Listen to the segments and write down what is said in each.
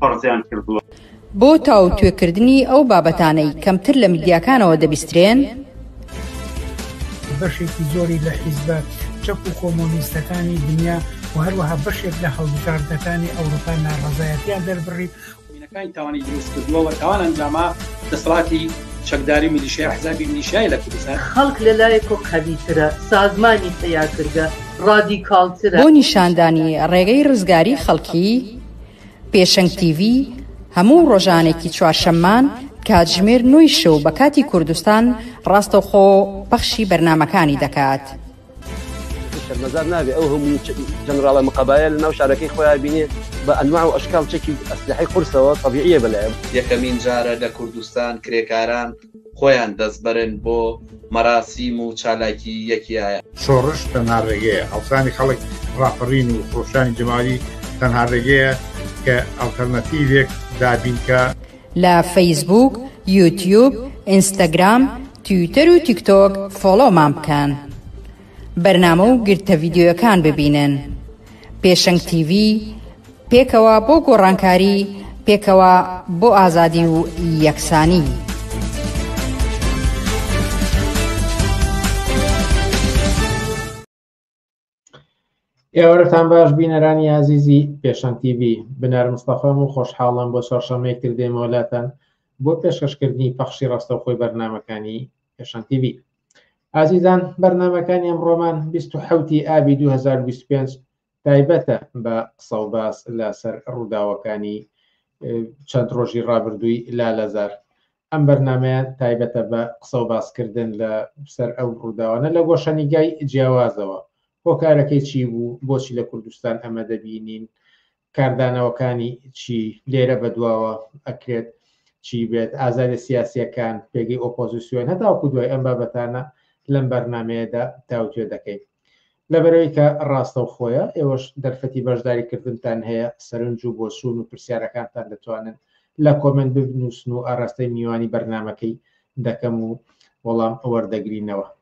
فەرزیان کردووە. بۆ تاوتوێکردنی ئەو بابەتانەی کەمتر لە میدیاکانەوە دەبیسترێن، بەشێکی زۆری لە حیزبە چەپ و کۆمۆنیستەکانی دنیا و هەروەها بەشێک لە هەڵبژاردەکانی ئەوروپا ناڕەزایەتیان دەربڕی کانی تاوانی دروست کردووە و تاوان ئەنجاما دەسەڵاتی چەکداری و میلیشیای ئەحزابی میلیشیای لە کوردستان. خەڵک لە لایەکۆ قەویترە، سازمانی پەیاکردە ڕادیکاڵترە. بۆ نیشاندانی ڕێگەی ڕزگاری خەڵکی، پێشەنگ تیڤی، هەموو ڕۆژانێکی چوارشەممان کاتژمێر نۆی شەو بە کاتی کوردستان ڕاستەوخۆ پەخشی بەرنامەکانی دەکات. شەرمەزار نابێ ئەو هەموو جەنراڵە مقەبایە لە ناو شارەکەی خۆیان بینێ بە ئەنواع و ئەشکاڵ چەکی ئەسلحەی قورسەوە تەبیعیە بەلایان. یەکەمین جارە لە کوردستان کرێکاران، خۆیان دەسبرن بۆ مەراسیم و چالاکی یەکیایە. شۆڕش تەنها ڕێگەیە، هەڵسانی خەڵک، ڕاپەڕین و خرۆشانی جەماوەری تەنها ڕێگەیە کە ئەڵتەرناتیڤێک دابینکا. لە فەیسبووک، یوتیوب، ئینستاگرام، تویتەر و تیکتۆک فۆڵۆمان بکەن بەرنامە و گرتە ڤیدیۆیەکان ببینن. پێشەنگ تیڤی، پێکەوە بۆ گۆڕانکاری، پێکەوە بۆ ئازادی و یەکسانی. ئێوارەتان باش بینەرانی ئازیزی پێشەنگ TV بنار مستەفام و خۆشحاڵم بۆ چوارشەمەیەکتر دێمەوە لاتان بۆ پێشکەشکردنی پەخشی ڕاستەوخۆی بەرنمەکانی پێشان تیV ئازیزان بەرنمەکانی ئەم ڕۆمان 1970 ئابی 2025 تایبەتە بە قسە و باس لەسەر ڕووداوەکانی چەند ڕۆژی ڕابردووی لا لەزار ئەم بەرنمەیە تایبەتە بە قسە و باسکردن لە سەر ئەو ڕووداوانە لە گۆشەنیگای جیاوازەوە هۆکارەکەی چی بوو بۆچی لە کوردستان ئەمە دەبینین کاردانەوەکانی چی لێرە بەدواوە ئەکرێت چی بێت ئازادە سیاسیەکان پێگەی ئۆپۆزیسیۆن هەتاوکو دوای ئەم بابەتانە لەم بەرنمەیەدا تاوتێ دەکەین لەبەرەوەی کە ڕاستە و خۆیە ئێوەش دەرفەتی بەشداریکردنتان هەیە سەرنج و بۆچوون و پرسیارەکانتان دەتوانن لە کۆمنت بنووسن و ئاراستەی میوانی بەرنمەکەی دەکەم و وەڵام ئەوەردەگرینەوە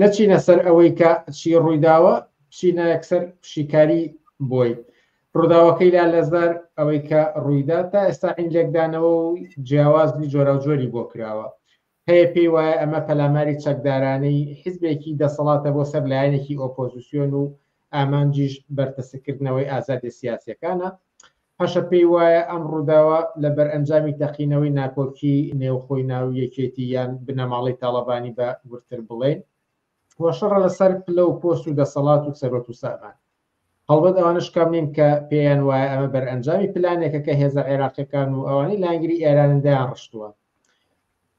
نەچینە سەر ئەوەی کە چی ڕوویداوە بچینە یەکسەر شیکاری بۆی ڕووداوەکەی لا لەزار ئەوەی کە ڕوویدا تا ئێستا عین لێکدانەوە و جیاوازی جۆراوجۆری بۆ کراوە هەیە پێی وایە ئەمە پەلاماری چەکدارانەی حیزبێکی دەسەڵاتە بۆ سەر لایەنێکی ئۆپۆزیسیۆن و ئامانجیش بەرتەسکردنەوەی ئازادی سیاسەکانە هەشە پێی وایە ئەم ڕووداوە لە بەرئەنجامی تەقینەوەی ناکۆکی نێوخۆی ناو یەکێتی یان بنەماڵەی تاڵەبانی بە وردتر بڵێین و شەڕە لەسەر پلە و پۆست و دەسەڵات و سەروەت و سامان هەڵبەت ئەوانش کەم نین کە پێیان وایە ئەمە بەرئەنجامی پلانێکە کە هێزە عێراقیەکان و ئەوانەی لایەنگری ئێرانن دەیان ڕشتووە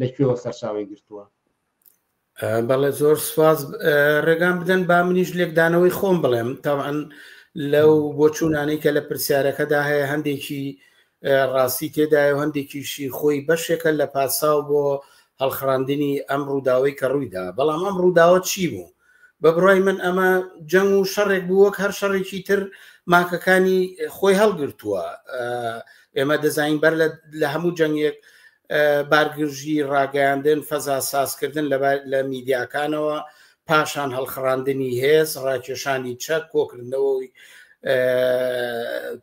لە کوێوە سەرچاوی گرتووە بەڵێ زۆر سواز ڕێگان بدەن با منیش لێکدانەوەی خۆم بڵێم تاوان لەو بۆچوونانەی کە لە پرسیارەکەدا هەیە هەندێکی ڕاستی تێدای و هەندێکیشی خۆی بەشێکە لە پاساو بۆ هەڵخڕاندنی ئەم ڕووداوی کە ڕوویدا بەڵام ئەم ڕووداوە چی بوو بە بڕای من ئەمە جەنگ و شەڕێک بوو وەک هەر شەڕێکی تر ماکەکانی خۆی هەڵگرتووە ئێمە دەزانین بەر لە هەموو جەنگێک بارگرژی ڕاگەیاندن فەزا سازکردن لە میدیاکانەوە پاشان هەڵخڕاندنی هێز ڕاکێشانی چەک کۆکردنەوەی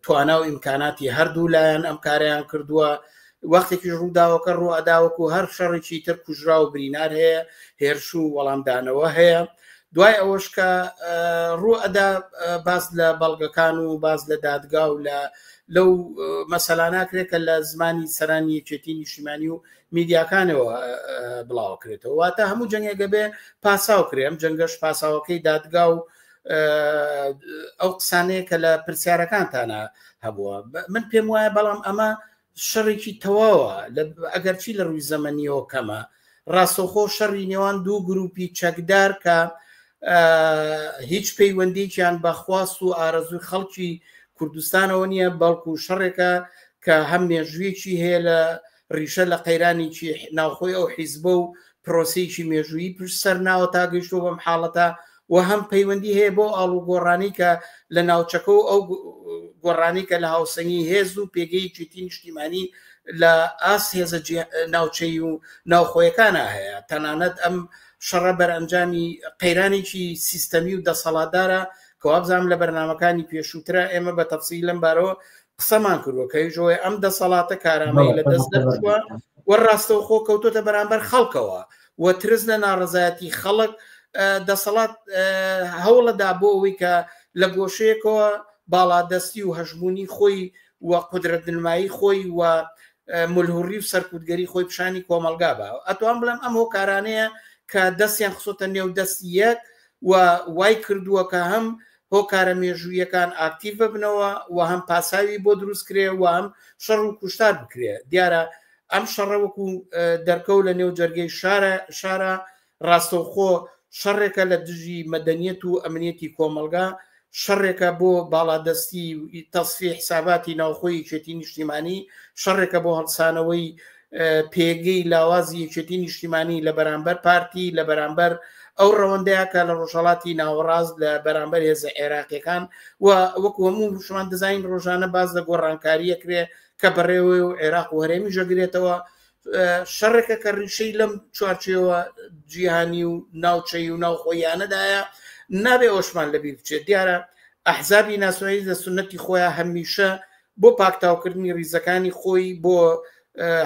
توانا و ئیمکاناتی هەردوو لایەن ئەم کاریان کردووە وەختێکی ڕووداوەکە ڕوو ئەداوەکو هەر شەڕێکی تر کوژرا و برینار هەیە هێرش و وەڵامدانەوە هەیە دوای ئەوەش کە ڕوو ئەدا باس لە بەڵگەکان و باس لە دادگا و لە لەو مەسەلاناکرێت کە لە زمانی سەرانی یەکێتی نیشتیمانی و میدیاکانەوە بڵاوکرێتەوە واتە هەموو جەنگێکە بێ پاساو کرێم جەنگەش پاساوەکەی دادگا و ئەو قسانەیە کە لە پرسیارەکانتانە هەبووە من پێم وایە بەڵام ئەمە شەڕێکی تەواوە ئەگەرچی لە ڕووی زەمەنیەوە کەمە ڕاستەخۆ شەڕی نێوان دوو گروپی چەکدار کە هیچ پەیوەندیکیان بەخواست و ئارەزوی خەڵکی کوردستانەوە نییە بەڵکو شەڕێکە کە هەم مێژوویەکی هەیە لە ڕیشە لە قەیرانێکی ناوخۆی ئەو حیزبە و پرۆسیکی مێژووی پشت سەر ناوە تا گەشتۆ بەم حاڵەتە و هەم پەیوەندی هەیە بۆ ئاڵوگۆڕانی کە لە ناوچەکە و ئەو گۆڕانی کە لە هاوسەنگی هێز و پێگەی جوتی نیشتیمانی لە ئاس هێزە ناوچەی و ناوخۆیەکانە هەیە تەنانەت ئەم شەڕە بەرئەنجامی قەیرانێکی سیستەمی و دەسەڵاتدارە کەوابزانام لە بەرنمەکانی پێشووترا ئێمە بە تەفسی لەم بارەوە قسەمان کردوە کەیژۆی ئەم دەسەڵاتە کارامەی لە دەست دەرچووە وە ڕاستەوخۆ کەوتۆتە بەرامبەر خەڵکەوە و ترس لە ناڕەزایەتی خەڵک، دەسەڵات هەوڵەدا بۆ ئەوەی کە لە گۆشەیەکەوە باڵادەستی و هەژموونی خۆی و قودرەتنمایی خۆی و ملهوڕی و سەرکوتگەری خۆی پیشانی کۆمەلگا بە ئەتوان بڵێم ئەم هۆکارانەیە کە دەستیان خسۆتە نێو دەستی یەک و وای کردووە کە هەم هۆکارە مێژوویەکان ئاکتیڤ ببنەوە و هەم پاساوی بۆ دروست کرێ و هەم شەڕ و کوشتار بکرێ دیارە ئەم شەڕە وەکو دەرکەو لە نێو جەرگەی شارە شارە ڕاستەوخۆ شەڕێکە لە دژی مەدەنیەت و ئەمنیەتی کۆمەلگا شەڕێکە بۆ باڵادەستی تەسفی حساباتی ناوخۆی چێتی نیشتیمانی شەڕێکە بۆ هەڵسانەوەی پێگەی لاوازی یەکێتی نیشتیمانی لە بەرامبەر پارتی لە بەرامبەر ئەو ڕەوەندەیە کە لە ڕۆژهڵاتی ناوەڕاست لە بەرامبەر هێزە عێراقیەکان و وەکو هەموو شمان دەزین ڕۆژانە باز لە گۆڕانکاریە کرێ کە بەڕێوە و عێراق و هەرێمی ژەگرێتەوە شەڕێکە کە ڕیشەی لەم چوارچەوە جیهانی و ناوچەی و ناوخۆیانەدایە نابێ ئۆشمان لەبیر بچێت دیارە ئەحزابی ناسایی لە سنەتی خۆیان هەمیشە بۆ پاکتاوکردنی ریزەکانی خۆی بۆ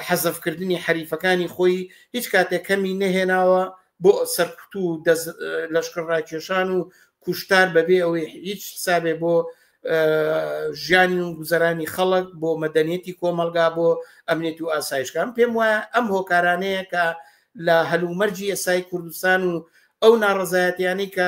حەزەفکردنی حەریفەکانی خۆی هیچ کاتێک کەمی نەهێناوە بۆ سەرکوت و لەشکر ڕاکێشان و کوشتار بەبێ ئەوەی هیچ حسابێ بۆ ژیانی و گوزەرانی خەڵک بۆ مەدەنیەتی کۆمەلگا بۆ ئەمنێت و ئاسایشکان پێم وایە ئەم هۆکارانەیە کە لە هەلومەرجی ئێسای کوردستان و ئەو ناڕزایەتیانی کە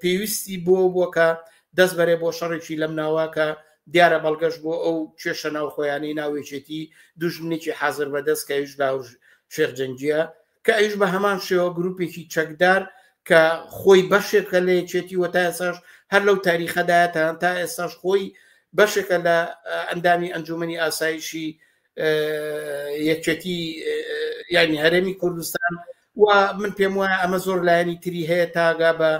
پێویستی بۆ بووە کە دەست بەرێ بۆ شەڕێکی لەم ناوە کە دیارە بەڵگەش بۆ ئەو کێشە ناوخۆیانەی ناوێچێتی دوژمنێکی حازر بەدەست کە ئیش داوژ شێخ جەنگیە کە ئەیش بە هەمان شێوە گروپێکی چەکدار کە خۆی بەشێکە لە یەکێتی وە تا ئێساش هەر لەو تاریخەدایەتان تا ئێساش خۆی بەشێکە لە ئەندامی ئەنجومی ئاسایشی یەکێتی یانی هەرێمی کوردستان و من پێم وایە ئەمە زۆر لایەنی تری هەیە تاگا بە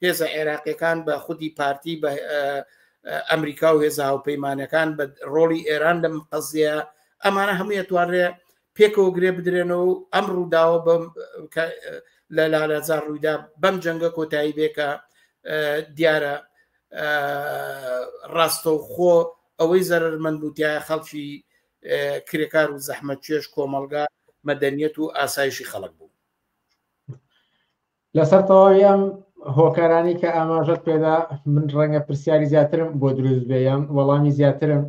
هێزە عێراقیەکان بە خودی پارتی بە ئەمریکا و هێزا و پەیمانەکان بە ڕۆڵی ئێران لەم قەزیە ئەمانە هەموو توانرێ پێکەوە گرێ بدرێنەوە و ئەم ڕووداوە بەم لە لالازار ڕوویدا بەم جەنگە کۆتایی بێکە دیارە ڕاستەوخۆ ئەوەی زەرەرمەند بوو تایە خەڵکی کرێکار و زەحمەتکێش کۆمەڵگا مەدەنیەت و ئاسایشی خەڵک بوو لەسەر تەواوی ئەم هۆکارانی کە ئاماژەت پێدا من ڕەنگە پرسیاری زیاترم بۆ دروست بێ یان وەڵامی زیاترم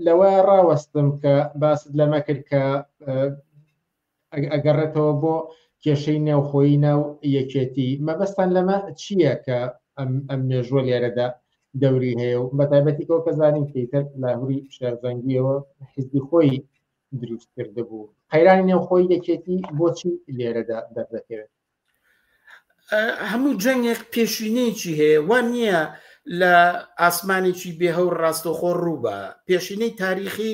لەوە ڕاوەستم کە باست لەمە کرد کە ئەگەڕێتەوە بۆ کێشەی نێوخۆیی ناو یەکێتی مەبەستان لەمە چییە کە ئەم مێژوە لێرەدا دەوری هەیە و بەتابەتی کۆ کە زانین پیتەر لاهوری شارزەنگیەوە حزبی خۆی دروست کرد بوو قەیرانی نێوخۆی یەکێتی بۆچی لێرەدا دەردەکەوێت هەموو جەنگێک پێشینەیەکی هەیە وا نییە لە ئاسمانێکی بێهەو ڕاستەخۆ ڕووبە پێشینەی تاریخی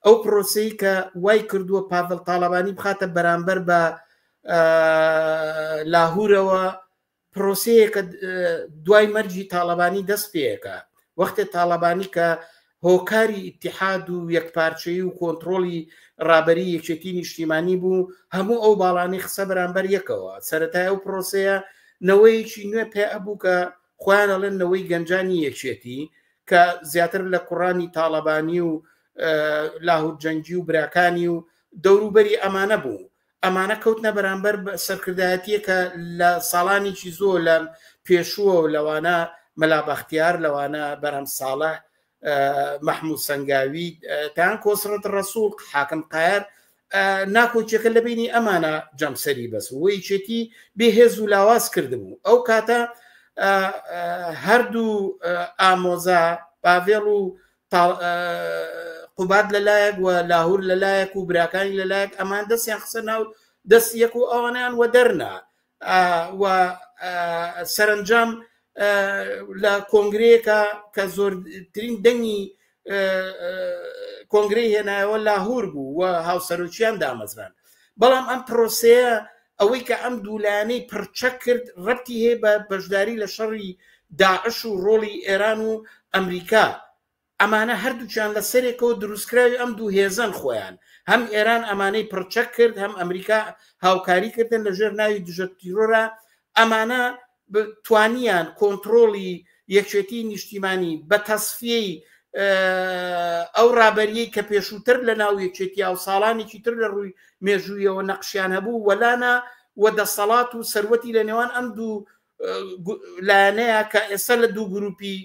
ئەو پرۆسی کە وای کردووە پاڤل تاالبانی بخاتە بەرامبەر بە لاهورەوە پرۆسەیەکە دوای مەرجی تاالبانی دەست پێەکە وەختێ تاالبانی کە هۆکاری ئیتیحاد و یەکپارچەیی و کۆنتڕۆڵی ڕابەری یەکێتی نیشتیمانی بوو، هەموو ئەو باڵانەی خستە بەرامبەر یەکەوە، سەرەتای ئەو پرۆسەیە نەوەیەکی نوێ پێ ئەبوو کە خۆیان ئەڵێن نەوەی گەنجانی یەکێتی کە زیاتر لە کوڕانی تاڵەبانی و لاهور جەنگی و براکانی و دەوروبەری ئەمانە بوو، ئەمانە کەوتنە بەرامبەر سەرکردایەتییەک کە لە ساڵانیکی زۆر لە پێشووە و لەوانە مەلا بەختیار لەوانە بەرهەم ساڵە مەحموو سنگاوی تان کۆسرەت ڕسوول حاکم قایەر ناکۆکیەکە لە بینی ئەمانە جەمسەری بەس وەیچێتی بێهێز و لاواز کردبوو ئەو کاتە هەردوو ئامۆزا باڤێڵ و قوباد لە لایەک و لاهور لە لایەک و براکانی لە لایەک ئەمان دەستیان خسە ناو دەست یەک و ئەوانیان وە دەرنا و سەرنجام لە کۆنگرەیەکە کە زۆرترین دەنگی کۆنگری هێنایەوە لاهور بوو و هاوسەرۆکیان دامەزران بەڵام ئەم پرۆسەیە ئەوەی کە ئەم دوو لایەنەی پڕچەک کرد ڕەبتی هەیە بە بەشداری لە شەڕی داعش و ڕۆڵی ئێران و ئەمریکا ئەمانە هەردووچان لە سەرێکەوە دروستکراوی ئەم دوو هێزن خۆیان هەم ئێران ئەمانەی پڕچەک کرد هەم ئەمریکا هاوکاری کردن لەژێر ناوی دژە تیرۆرە ئەمانە توانیان کۆنتڕۆڵی یەکێتیی نیشتیمانی بە تەسفیەی ئەو ڕابەرییەی کە پێشووتر لەناو یەکێتیا و ساڵانێکی تر لە ڕووی مێژوویەوە نەقشیان هەبوو وەلانا و دەسەڵات و سەروەتی لە نێوان ئەم دوو لایەنەیە کە ئێستا لە دوو گرووپی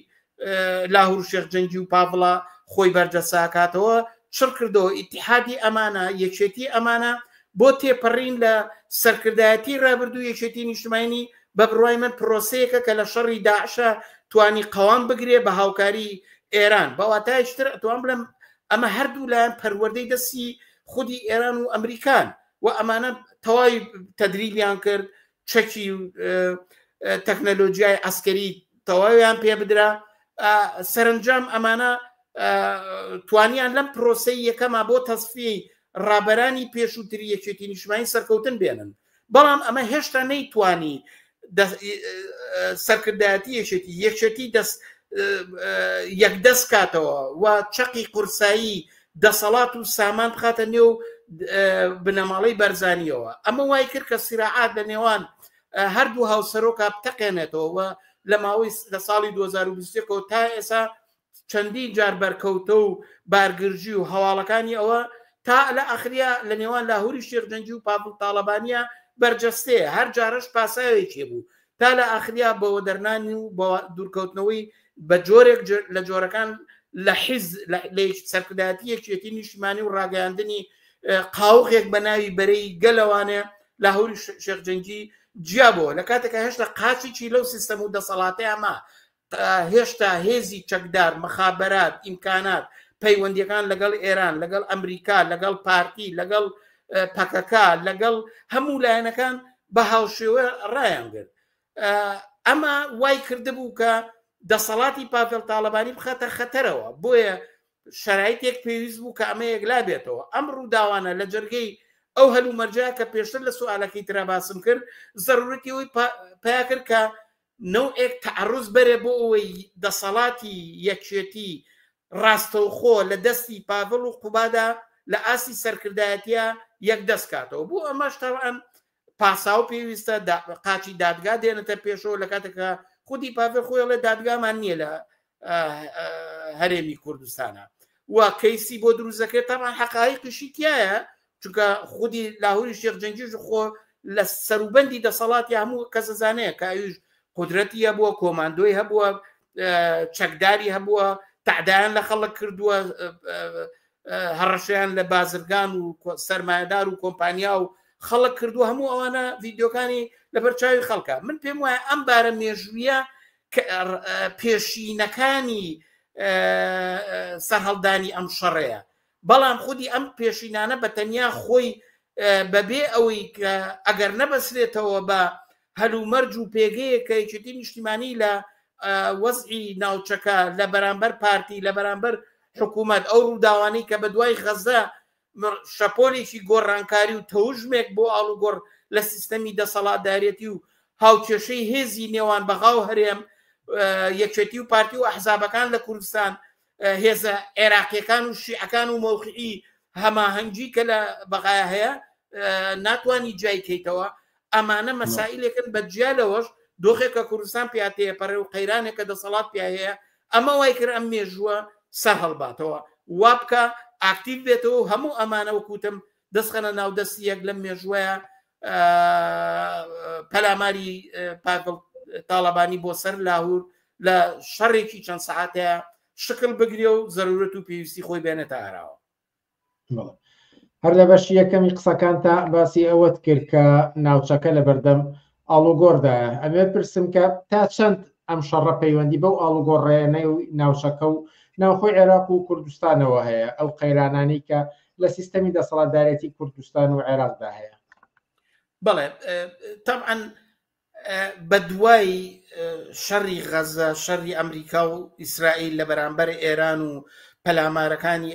لاهور شێخ جەنگی و پاڤڵە خۆی بەردەساکاتەوە چڕ کردەوە ئیتحادی ئەمانە یەکێتی ئەمانە بۆ تێپەڕین لە سەرکردایەتی ڕابردوو یەکێتی نیشتمانی بە بڕای من پرۆسەیەکە کە لە شەڕی داعشە توانی قەوام بگرێ بە هاوکاری ئێران بەواتایشتر ئەتوان بڵم ئەمە هەردوو لایەن پەروەردەی دەستی خودی ئێران و ئەمریکان و ئەمانە تەواوی تەدریبیان کرد چەکی و تەکنەلۆژیای ئەسکەری تەواویان پێ بدرا سەرنجام ئەمانە توانیان لەم پرۆسی یەکەما بۆ تەسفی ڕابەرانی پێشووتر یەکێتی نیشمانی سەرکەوتن بێنن بەڵام ئەمە هێشتا نەیتوانی سەرکردایەتی یەکێتی یەکێتی دەست یەکدەست کاتەوە و چەقی قورسایی دەسەڵات و سامان بخاتە نێو بنەماڵەی بەرزانیەوە ئەمە وای کرد کە سیراعات لە نێوان هەردوو هاوسەرۆکە بتەقێنێتەوە و لە ماوەی لە ساڵی 2020ەوە تا ئێسا چەندین جار بەرکەوتە و بارگرژی و هەواڵەکانی ئەوە تا لە ئەخریا لە نێوان لاهوری شێخجەنجی و پاپل تاالبانیا بەرجەستەیە هەر جارش پاساوێکی بوو تا لە ئاخریا بە وەدەرنانی و بە دوورکەوتنەوەی بە جۆرێک لە جۆرەکان لە حیز لە سەرکردایەتی یەکێتی نیشتمانی و ڕاگەیاندنی قاوغێک بە ناوی بەرەی گەلەوانێ لە هەوری شێخجەنگی جیابەوە لە کاتێکە هێشتا قاچێکی لەو سیستەم و دەسەڵاتەیە ما هێشتا هێزی چەکدار، مخابرات، ئیمکانات، پەیوەندیەکان لەگەڵ ئێران، لەگەڵ ئەمریکا، لەگەڵ پارتی، لەگەڵ پەکەکە، لەگەڵ هەموو لایەنەکان بە هاوشێوە ڕایانگرت. ئەمە وای کردبوو کە دەسەڵاتی پاڤێل تاالبانی بخاتە خەتەرەوە بۆیە شرایتێک پێویست بوو کە ئەمە یەکلا بێتەوە ئەم ڕووداوانە لە جەرگەی ئەو هەلومەرجە کە پێشتر لە سوالەکەی ترا باسم کرد ضرورەتی ئەوی پیا کرد کە نەوعێک تەعەڕوز بەرە بۆ ئەوەی دەسەڵاتی یەکێتی ڕاستەوخۆ لە دەستی پاڤڵ و قوبادا لە ئاستی سەرکردایەتییا یەکدەست کاتەوە، بۆ ئەمەش تەبعەن پاساو پێویستە، قاچی دادگا دێنێتە پێشەوە لە کاتێکا خودی پاڤێڵ خۆی ئەڵێ دادگامان نییە لە هەرێمی کوردستانە و کەیسی بۆ دروستەکرێت تامان حقایی قشی تایە چونکە خودی لاهوری شێخ جەنگیش خۆ لە سەروبەندی دەسەڵاتی هەموو کەسەزانەیە کە ئەوش قدرەتی هەبووە کۆماندۆی هەبووە چەکداری هەبووە تعدایان لە خەڵک کردووە هەڕەشیان لە بازرگان و سەرمایهدار و کۆمپانیا و خەڵک کردو هەموو ئەوانە ڤیددیوکانی لەبەر چاوی خەڵکە من پێم وایە ئەم بارە مێژویە پێشینەکانی سەرهەڵدانی ئەم شەڕەیە بەڵام خودی ئەم پێشینانە بە تەنیا خۆی بەبێ ئەوەی کە ئەگەر نەبەسرێتەوە بە هەلومەرج و پێگەیە کە یەکێتی نیشتیمانی لە وەزعی ناوچەکە لە بەرامبەر پارتی لە بەرامبەر حکوومەت ئەو ڕووداوانی کە بە دوای غەزە شەپۆلێکی گۆڕانکاری و تەوژمێک بۆ ئاڵوگۆڕ لە سیستەمی دەسەڵاتدارێتی و هاوکێشەی هێزی نێوان بەغا و هەرێم، یەکێتی و پارتی و ئەحزابەکان لە کوردستان، هێزە عێراقییەکان و شیعەکان و مەوقعی هەماهەنگی کە لە بەغا هەیە ناتوانی جیای کەیتەوە، ئەمانە مەسائلێکن بە جیا لەوەش دۆخێک کە کوردستان پیا تێپەڕێ و قەیرانێک کە دەسەڵات پیا هەیە ئەمە وای کرد ئەم مێژووە سەر هەڵباتەوە وا بکە ئاکتیو بێتەوە و هەموو ئەمانە وکوتم دەستخەنە ناو دەست یەک لەم مێژوەیە پەلاماری پاگڵ تاالبانی بۆ سەر لاهور لە شەڕێکی چەند سعاتەیە شکل بگرێ و زەرورەت و پێویستی خۆی بێنێتە ئاراوە هەر لە بەش یەکەمی قسەکان تا باسی ئەوەت کرد کە ناوچەکە لە بەردەم ئاڵوگۆڕدا ئەمێ پرسم کە تا چەند ئەم شەڕە پەیوەندی بەو ئاڵوگۆڕێنەی و ناوچەکە و ناوخۆی عێراق و کوردستانەوە هەیە ئەو قەیرانانی کە لە سیستەمی دەسەڵاتدارێتی کوردستان و عێراقدا هەیە بڵێ تەعاان بە دوای شەڕی غەزە، شەڕی ئەمریکا و ئیسرائیل لە بەرامبەر ئێران و پەلامارەکانی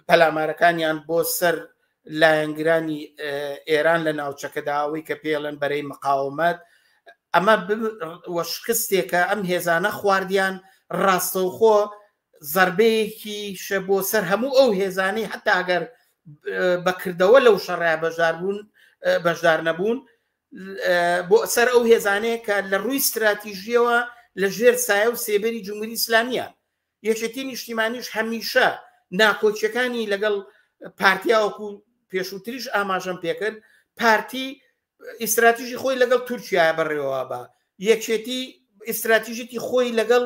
پەلامارەکانیان بۆ سەر لایەنگرانی ئێران لە ناوچەکەدا ئەوەی کە پێڵێن بەرەی مقاومەت ئەمە شکستێکە ئەم هێزانە خواردیان ڕاستەوخۆ زەربەیەکیشە بۆ سەر هەموو ئەو هێزانەی هەتا گەر بە کردەوە لەو شەڕای بەشدار بوون بەشدار نەبوون بۆ سەر ئەو هێزانەیە کە لە ڕووی ستراتیژیەوە لە ژێر سایە و سێبەری جمهوری ئیسلامیە یەکێتی نیشتیمانیش هەمیشە ناکۆچیەکانی لەگەڵ پارتیاوەکو پێشووتریش ئاماژەم پێکرد پارتی ئیستراتیژی خۆی لەگەڵ تورکیا بەڕێوە بە یەکێتی ئیستراتیژێتی خۆی لەگەڵ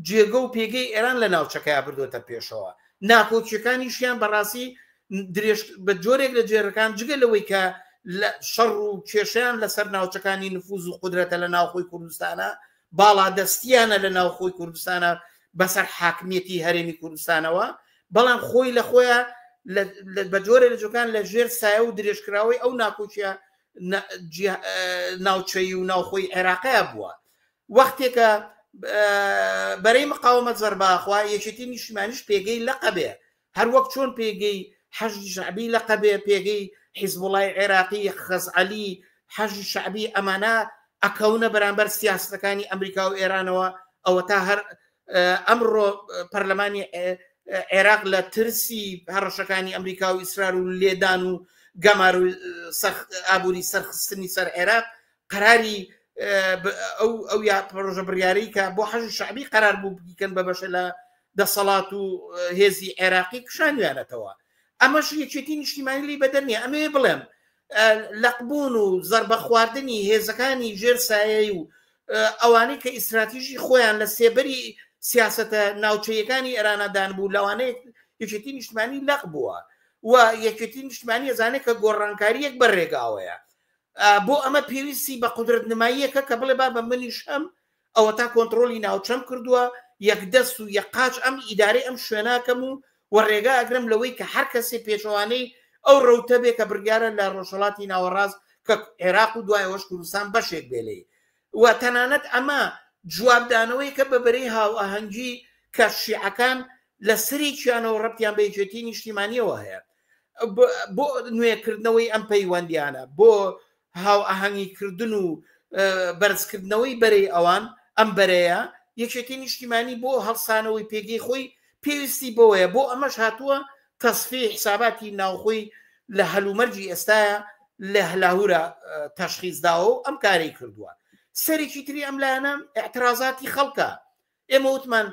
جێگە و پێگەی ئێران لە ناوچەکەیا بردوێتە پێشەوە ناکۆکیەکانیشیان بەڕاستی درێژ بە جۆرێک لە جێرەکان جگە لەوەی کە لە شەڕ و کێشیان لەسەر ناوچەکانی نفوز و قدرەتە لە ناوخۆی کوردستانە باڵادەستیانە لە ناوخۆی کوردستانە بەسەر حاکمیەتی هەرێمی کوردستانەوە بەڵام خۆی لە خۆیە بە جۆرە لە جۆکان لە ژێر سایە و درێژکراوەی ئەو ناکۆکیە ناوچەی و ناوخۆی عێراقەیە بووە وەختێکە بەرەی مقاومە زەرباخوا یەکێتی نیشتمانیش پێگەی لەقەبێ هەر وەک چۆن پێگەی حەژی شعبی لەقەبێ پێگەی حیزبوڵای عێراقی خەزعەلی حەژی شعبی ئەمانە ئەکەونە بەرامبەر سیاستەکانی ئەمریکا و ئێرانەوە ئەوە تا هەر ئەمڕۆ پەرلەمانی عێراق لە ترسی هەڕەشەکانی ئەمریکا و ئیسرار و لێدان و گەمار و ئابووری سەرخستنی سەر عێراق قەراری ئەو ئەو یا پرۆژە بڕیارەی کە بۆ حەژ شعبی قەرار بوو بکەن بە بەشە لە دەسەڵات و هێزی عێراقی کشانویانەتەوە ئەمەش یەکێتی نیشتیمانی لی بەدەنیە ئەمێ بڵێم لەقبوون و زەربەخواردنی هێزەکانی ژێر سایەی و ئەوانەی کە ئیسراتیژی خۆیان لە سێبەری سیاستە ناوچەیەکانی ئێرانەدان بوو لەوانەیە یەکێتی نیشتمانی لەق بووە و یەکێتی نیشتمانی ئەزانێت کە گۆڕانکاریەک بە ڕێگاوەیە بۆ ئەمە پێویستی بە قدرت نماییەکە کە بڵێ با بە منیش هەم ئەوەتا کۆنتڕۆڵی ناوچەم کردووە، یەکدەست و یەک قاچ ئەم ئیدارەی ئەم شوێناکەم و و ڕێگا ئەگرم لەوەی کە هەر کەسێ پێچەوانەی ئەو ڕەوتە بێ کە بڕیارە لە ڕۆژهەڵاتی ناوەڕاست کە عێراق و دوای ئەوەش کوردستان بەشێک بێ لێی و تەنانەت ئەمە جوابدانەوەیکە بە بەرەی هاوئاهەنگی کە شیعەکان لە سەرێکیانەوە ڕەبتیان بە یەکێتی نیشتیمانیەوە هەیە بۆ نوێکردنەوەی ئەم پەیوەندیانە بۆ هاوئاهەنگیکردن و بەرزکردنەوەی بەرەی ئەوان، ئەم بەرەیە یەکێتی نیشتیمانی بۆ هەڵسانەوەی پێگەی خۆی پێویستی بەوەیە، بۆ ئەمەش هاتووە تەسفیەی حساباتی ناوخۆی لە هەلومەرجی ئێستایا لە لاهورا تەشخیس داوە و ئەم کارەی کردووە، سەرێکی تری ئەم لایەنە ئیعترازاتی خەڵکە، ئێمە وتمان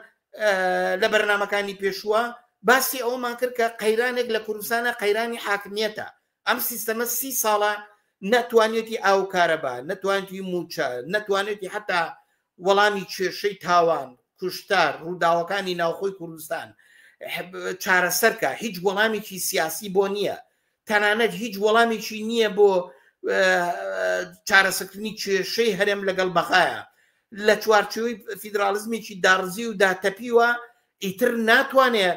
لە بەرنمەکانی پێشووە باسی ئەومان کرد کە قەیرانێک لە کوردستانە قەیرانی حاکمیەتە ئەم سیستەمە سی ساڵە نەتوانێتی ئاو کارەبا نەتوانێتی موچە نەتوانێتی حتا وەڵامی کێشەی تاوان کوشتار ڕووداوەکانی ناوخۆی کوردستان چارەسەرکە هیچ وەڵامێکی سیاسی بۆ نییە تەنانەت هیچ وەڵامێکی نییە بۆ چارەسەکردنی کێشەی هەرێم لەگەڵ بەغایە لە چوارچەوەی فیدراالیزمێکی داڕزی و داتەپیوە ئیتر ناتوانێ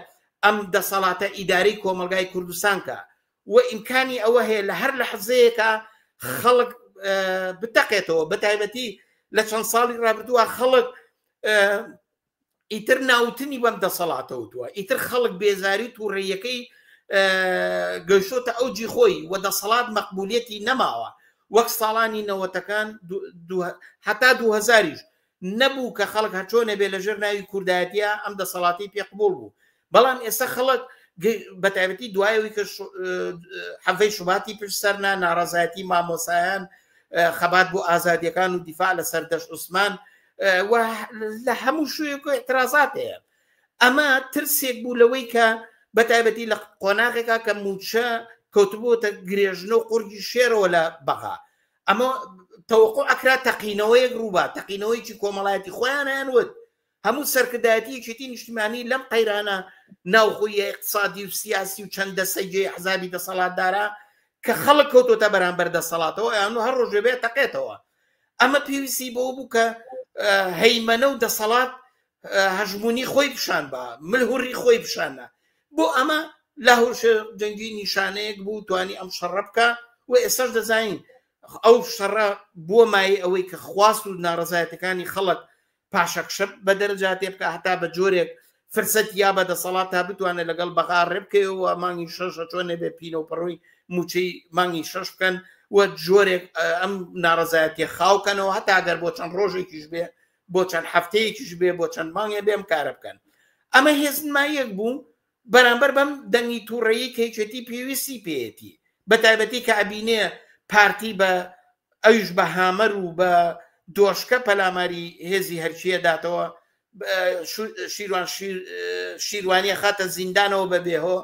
ئەم دەسەڵاتە ئیدارەی کۆمەلگای کوردستانکە و ئیمکانی ئەوە هەیە لە هەر لە حزەیەکە خەڵک بتەقێتەوە بە تایبەتی لە چەند ساڵی ڕابردووە خەڵک ئیتر ناوتنی بەم دەسەڵاتەوتوە ئیتر خەڵک بێزاری و تووڕێیەکەی گەشتۆتە ئەو جی خۆی و دەسەڵات مەقبولەتی نەماوە وەک ساڵانی نەوەتەکان هەتا دوهزاریش نەبوو کە خەڵک هەچۆنە بێ لەژێر ناوی کوردایەتە ئەم دەسەڵاتی پێقبول بوو بەڵام ئێستا خەڵک بەتابەتی دوایەوەی کە حەفەی شوباتی پشت سەرنا ناڕازایەتی مامۆسایان خەبات بۆ ئازادیەکان و دیفاع لە سەردەش عوسمان لە هەموو شوێک اعترازات هەیە ئەمە ترسێک بوو لەوەی کە بەتابەتی لە قۆناغێکا کە موچە کەوتبووتە گرێژن و قورگی شێرەوە لە بەغا ئەمە تەوەقع ئەکرا تەقینەوەیەک ڕووبا تەقینەوەیکی کۆمەڵایەتی خۆیان هەیان وت هەموو سەرکردایەتی یەکێتی نیشتیمانی لەم قەیرانە ناوخۆیە اقتصادی و سیاسی و چەند دەسەی جێ حزابی دەسەڵاتدارە کە خەڵک کەوتۆتە بەرامبەر دەسەڵاتەوە یان هەر ڕۆژێ بێت تەقێتەوە ئەمە پێویستی بۆ بوو کە هەیمەنە و دەسەڵات هەژمونی خۆی پیشان بە ملهوری خۆی پیشانە بۆ ئەمە لە هەوش جەنگی نیشانەیەک بوو توانی ئەم شەڕە بکە و ئێسش دەزانین ئەو شەڕە بۆ مای ئەوەی کە خواست و ناڕزایەتەکانی خەڵک پاشەکشە بە دەرەجاتێ بکە هەتا بە جۆرێک فرسەت یا بە دەسەڵات تا بتوانێت لەگەڵ بەغا ڕێبکەوە مانگی شەشە چۆن نەبێ پینەوپەڕۆی موچەی مانگی شەش بکەن و جۆرێک ئەم ناڕزایەتی خاوکەنەوە هەتا گەر بۆ چەند ڕۆژێکیش بێ بۆ چەند هەفتەیەکیش بێ بۆ چەند مانگێ بێم کارە بکەن ئەمە هێزنمایەک بوو بەرامبەر بەم دەنگی تووڕەیی کە یەکێتی پێویستی پێیەتی بە تایبەتی کە ئەبینێ پارتی بە ئەویش بە هامەر و بە دۆشکە پەلاماری هێزی هەرچیە داتەوە شیروان شیروانیە خاتە زیندانەوە بە بێهۆ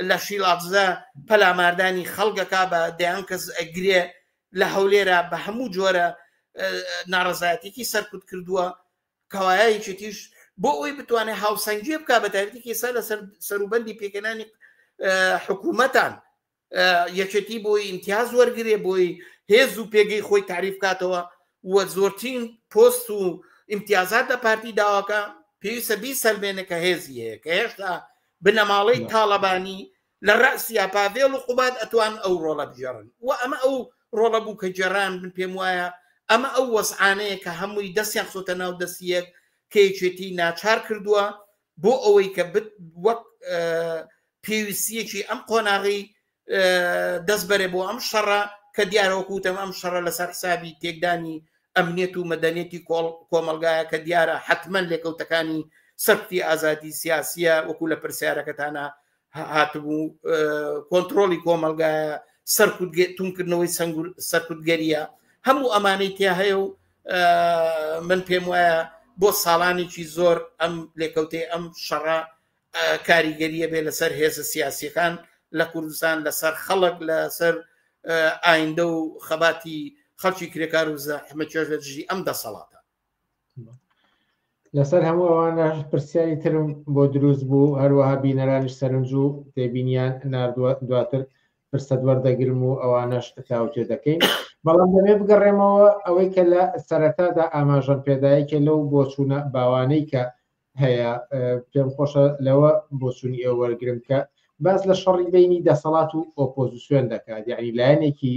لە شیلاتزە پەلاماردانی خەڵگەکە بە دەیان کەس ئەگرێ لە هەولێرە بە هەموو جۆرە ناڕزایەتێکی سەرکوت کردووە کەوایە یەکێتیش بۆ ئەوی بتوانێت هاوسەنگی بک بە تایبەتی ئێستا لە سەروبەندی پێکەنانی حکوومەتان یەکێتی بۆی ئیمتیاز وەرگێ بۆی هێز و پێگەی خۆی تعریف کاتەوە و زۆرترین پۆست و ئیمتیازات لە پارتی داواکە پێویستە بی سەلمێنە کە هێزی هەیە کە هێشتا بنەماڵەی تاالبانی لە ڕاسیا پاڤێڵ و قوباد ئەتوان ئەو ڕۆڵە بگێڕن و ئەمە ئەو ڕۆڵە بوو کە گێڕان، من پێم وایە ئەمە ئەو وەزعانەیە کە هەمووی دەستیان خستۆتە ناو دەستی یەک کە یەکێتیی ناچار کردووە بۆ ئەوەی کە وەک پێویستیەکی ئەم قۆناغی دەست بەرێ بۆ ئەم شەڕە کە دیارە وەکو وتم ئەم شەڕە لەسەر حسابی تێکدانی ئەمنیەت و مەدەنێتی کۆڵ کۆمەلگایە کە دیارە حتمما لێکەوتەکانی سەرکوتی ئازادی سیاسیە وەکو لە پرسیارەکەتانە هاتبوو کۆنتترۆلی کۆمەلگایە سەرکوت تونکردنەوەی سنگور سەرکوتگەریە هەموو ئەمانەی تیا هەیە و من پێم وایە بۆ ساڵانێکی زۆر ئەم لێکەوتێ ئەم شەڕە کاریگەریە بێ لەسەر هێزە سیاسیەکان لە کوردستان لەسەر خەڵک لەسەر ئایندە و خەباتی خەڵکی کرێکار و زەحمە چێژ لە دژی ئەم دەسەڵاتە لەسەر هەموو ئەوانە پرسیاری ترم بۆ دروست بوو هەروەها بینەرانش سەرنج و تێبینیان نردووە دواتر فرسەت وەردەگرم و ئەوانەش تاوتێ دەکەین بەڵام دەمێ بگەڕێمەوە ئەوەی کە لە سەرەتادا ئاماژەم پێدایەکێ لەو بۆچوونە باوانەی کە هەیە پێم خۆشە لەوە بۆچوونی ئێوە وەرگرم کە باس لە شەڕی بینی دەسەڵات و ئۆپۆزیسیۆن دەکات یعنی لایەنێکی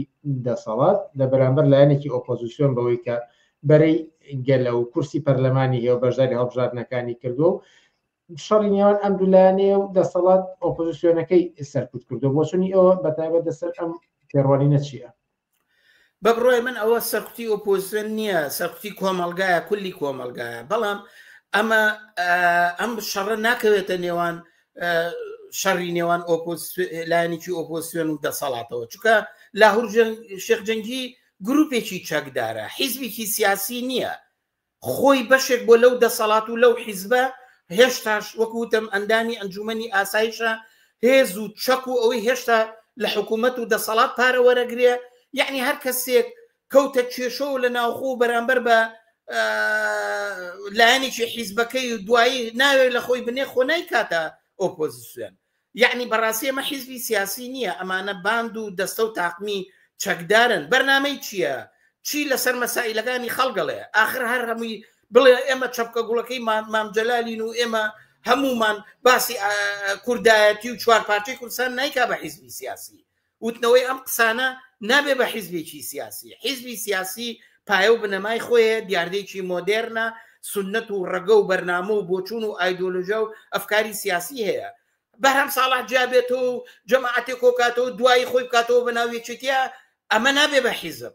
دەسەڵات لە بەرامبەر لایەنێکی ئۆپۆزیسیۆن بەوەی کە بەرەی گەلە و کورسی پەرلەمانی هێو بەشداری هەڵبژاردنەکانی کردو و شەڕی نێوان ئەم دولانەیە و دەسەڵات ئۆپۆزیسیۆنەکەی سەرکوت کردو بۆچونی ئەوە بەتابەت دەسەر ئەم پێڕوانینە چییە؟ بەبڕای من ئەوە سەرکوتی ئۆپۆزیسیۆن نییە سەرکوتی کۆمەلگایە کولی کۆمەلگایە بەڵام ئەمە ئەم شەڕە ناکەوێتە نێوان شەڕی نێوان لایەنێکی ئۆپۆسیۆن و دەسەڵاتەوە چکە لاهور شێخ جەنگی گروپێکی چەکدارە حیزبێکی سیاسی نییە خۆی بەشێک بووە لەو دەسەڵات و لەو حیزبە، هێشتاش وەک وتم ئەندامی ئەنجومەنی ئاسایشە، هێز و چەک و ئەوەی هێشتا لە حکومەت و دەسەڵات پارە وەرەگرێ، یەعنی هەر کەسێک کەوتە کێشەوە لە ناوخۆ و بەرامبەر بە لایەنێکی حیزبەکەی و دوایی ناوێ لە خۆی بنێ خۆ نایکاتە ئۆپۆزسیۆن، یەعنی بەڕاستی ئەمە حیزبی سیاسی نیە ئەمانە باند و دەستە و تاقمی چەکدارن بەرنامەی چیە چی لەسەر مەسائیلەکانی خەڵگەڵێ ئاخر هەر هەمووی بڵێ ئێمە چەپکە گوڵەکەی مام جەلالین و ئێمە هەموومان باسی کوردایەتی و چوار پارچەی کوردستان نایکا بە حیزبی سیاسی وتنەوەی ئەم قسانە نابێ بە حیزبێکی سیاسی حیزبی سیاسی پایە و بنەمای خۆیە دیاردێکی مۆدێرنە سنت و ڕەگە و بەرنامە و بۆچون و ئایدۆلۆژە و ئەفکاری سیاسی هەیە بەرهەم ساڵح جیابێتەوە و جەماعاتێک کۆکاتەوە دوایی خۆی بکاتەوە بە ناوێکێتە ئەمە نابێ بە حیزب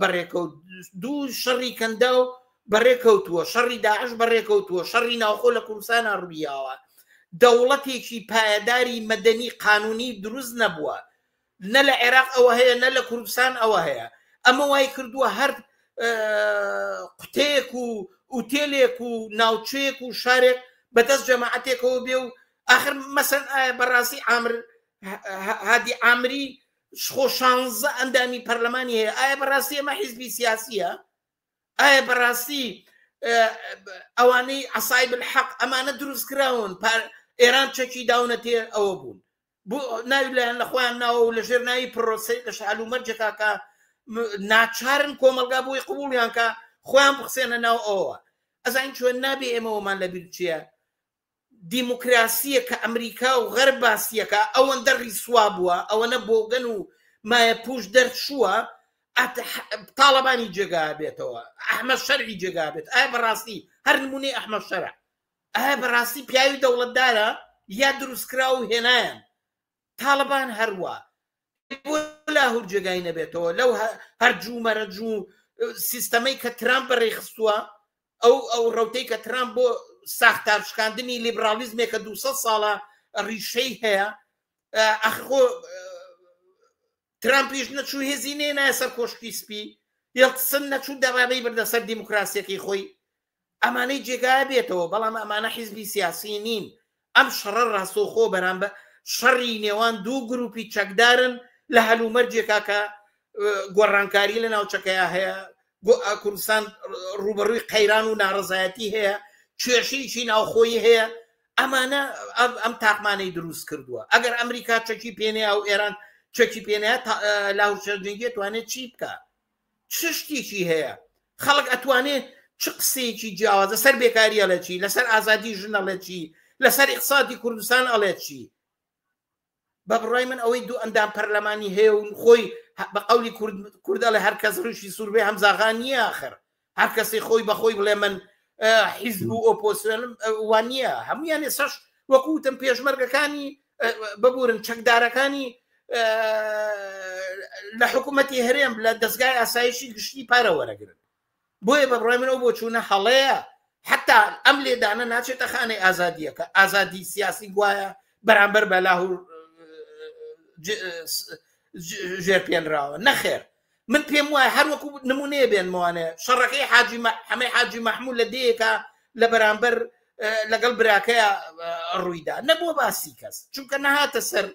بەڕێکەوت دوو شەڕی کەندا و بەڕێکەوتووە شەڕی داعش بەڕێکەوتووە شەڕی ناوخۆ لە کوردستانە ڕوویاوە دەوڵەتێکی پایەداری مەدەنی قانونی دروست نەبووە نە لە عێراق ئەوە هەیە نە لە کوردستان ئەوە هەیە ئەمە وای کردووە هەر قوتەیەک و ئوتێلێک و ناوچەیەک و شارێک بەدەست جەماعاتێکەوە بێ و آخر مەسەن ئایا بەڕاستی ئامر هادی ئامری خۆ شانزە ئەندامی پەرلەمانی هەیە ئایا بەڕاستی ئەمە حیزبی سیاسیە ئایا بەڕاستی ئەوانەی عسای بالحەق ئەمانە دروست کراون ئێران چەکی داونە تێ ئەوە بوون بۆ ناوی لایەن لە خۆیان ناوە و لە ژێر ناوی پرۆسی لە شعال و مەرجەکەکە ناچارن کۆمەلگا بۆی قوبولیانکە خۆیان بخسێنە ناو ئەوە ئەزانین چۆن نابێ ئێمەوەمان لە بیرچیە دیموکراسیە کە ئەمریکا و غەرب باسیەکا ئەوەندە ڕیسوا بوە ئەوەنە بۆگەن و مایە پوش دەرچوە ئەت تاڵەبانی جێگا بێتەوە ئەحمە شەرعی جێگا بێت ئایا بەڕاستی هەر نمونەی ئەحمە شەرع ئایا بەڕاستی پیاوی دەوڵەتدارە یا دروستکراو و هێنایان تاڵەبان هەروە لاهور جێگای نەبێتەوە لەو هەرجوو مەرەجوو سیستەمەی کە ترامپ بەڕێخستووە ئەو ئەو ڕەوتەی کە ترامپ بۆ ساختار شکاندنی لیبرالیزمێک کە 200 ساڵە ڕیشەی هەیە ئەخۆ ترامپیش نەچوو هێزی نێ نایە سەر کۆشکی سپی یڵسن نەچوو دەڕانەی بردە سەر دیموکراسیەکەی خۆی ئەمانەی جێگای بێتەوە بەڵام ئەمانە حیزبی سیاسی نین ئەم شەڕە ڕاستەوخۆ بەرامبەر شەڕی نێوان دوو گروپی چەکدارن لە هەلومەرجێکا کە گۆڕانکاری لە ناوچەکەیا هەیە کوردستان ڕوبەڕووی قەیران و ناڕزایەتی هەیە کێشەیەکی ناوخۆی هەیە ئەمانە ئەم تاقمانەی دروست کردووە ئەگەر ئەمریکا چەکی پێنێ ئەو ئێران چەکی پێنێ لاهور شەرجەنگی توانێت چی بکە چ شتیکی هەیە خەڵک ئەتوانێ چ قسەیەکی جیاواز لەسەر بێکاری ئەڵێ چی لەسەر ئازادی ژن ئەڵێ چی لەسەر ئیقسادی کوردستان ئەڵێ چی بە بڕای من ئەوەی دوو ئەندام پەرلەمانی هەیە و خۆی بە قولی کوردەڵێ هەر کەس ڕوشی سووربێ هەمزاغان نییە آخر هەر کەسی خۆی بەخۆی بڵێ من حیزب و ئۆپۆسیۆنم وانە هەمویان ێسش وەکوتم پێشمەرگەکانی ببورن چەکدارەکانی لە حکوومەتتی هەرێم لە دەستگای ئاسایشی گشتی پارە وەرەگرن بۆیە بە بڕای منەوە بۆ چوونە هەڵەیە حتا ئەم لێدانە ناچێتە خانەی ئازادیەکە ئازادی سیاسی گوایە بەرامبەر بە لاهور ژێر پێنراوە نەخێر من پێم وایە هەر وەکو نمونەیە بێنمەوانێ شەڕەکەی حاجی حەمەی حاجی مەحموو لە دەیەکە لە بەرامبەر لەگەڵ براکەیە ڕوویدا نەبووە باسی کەس چونکە نەهاتە سەر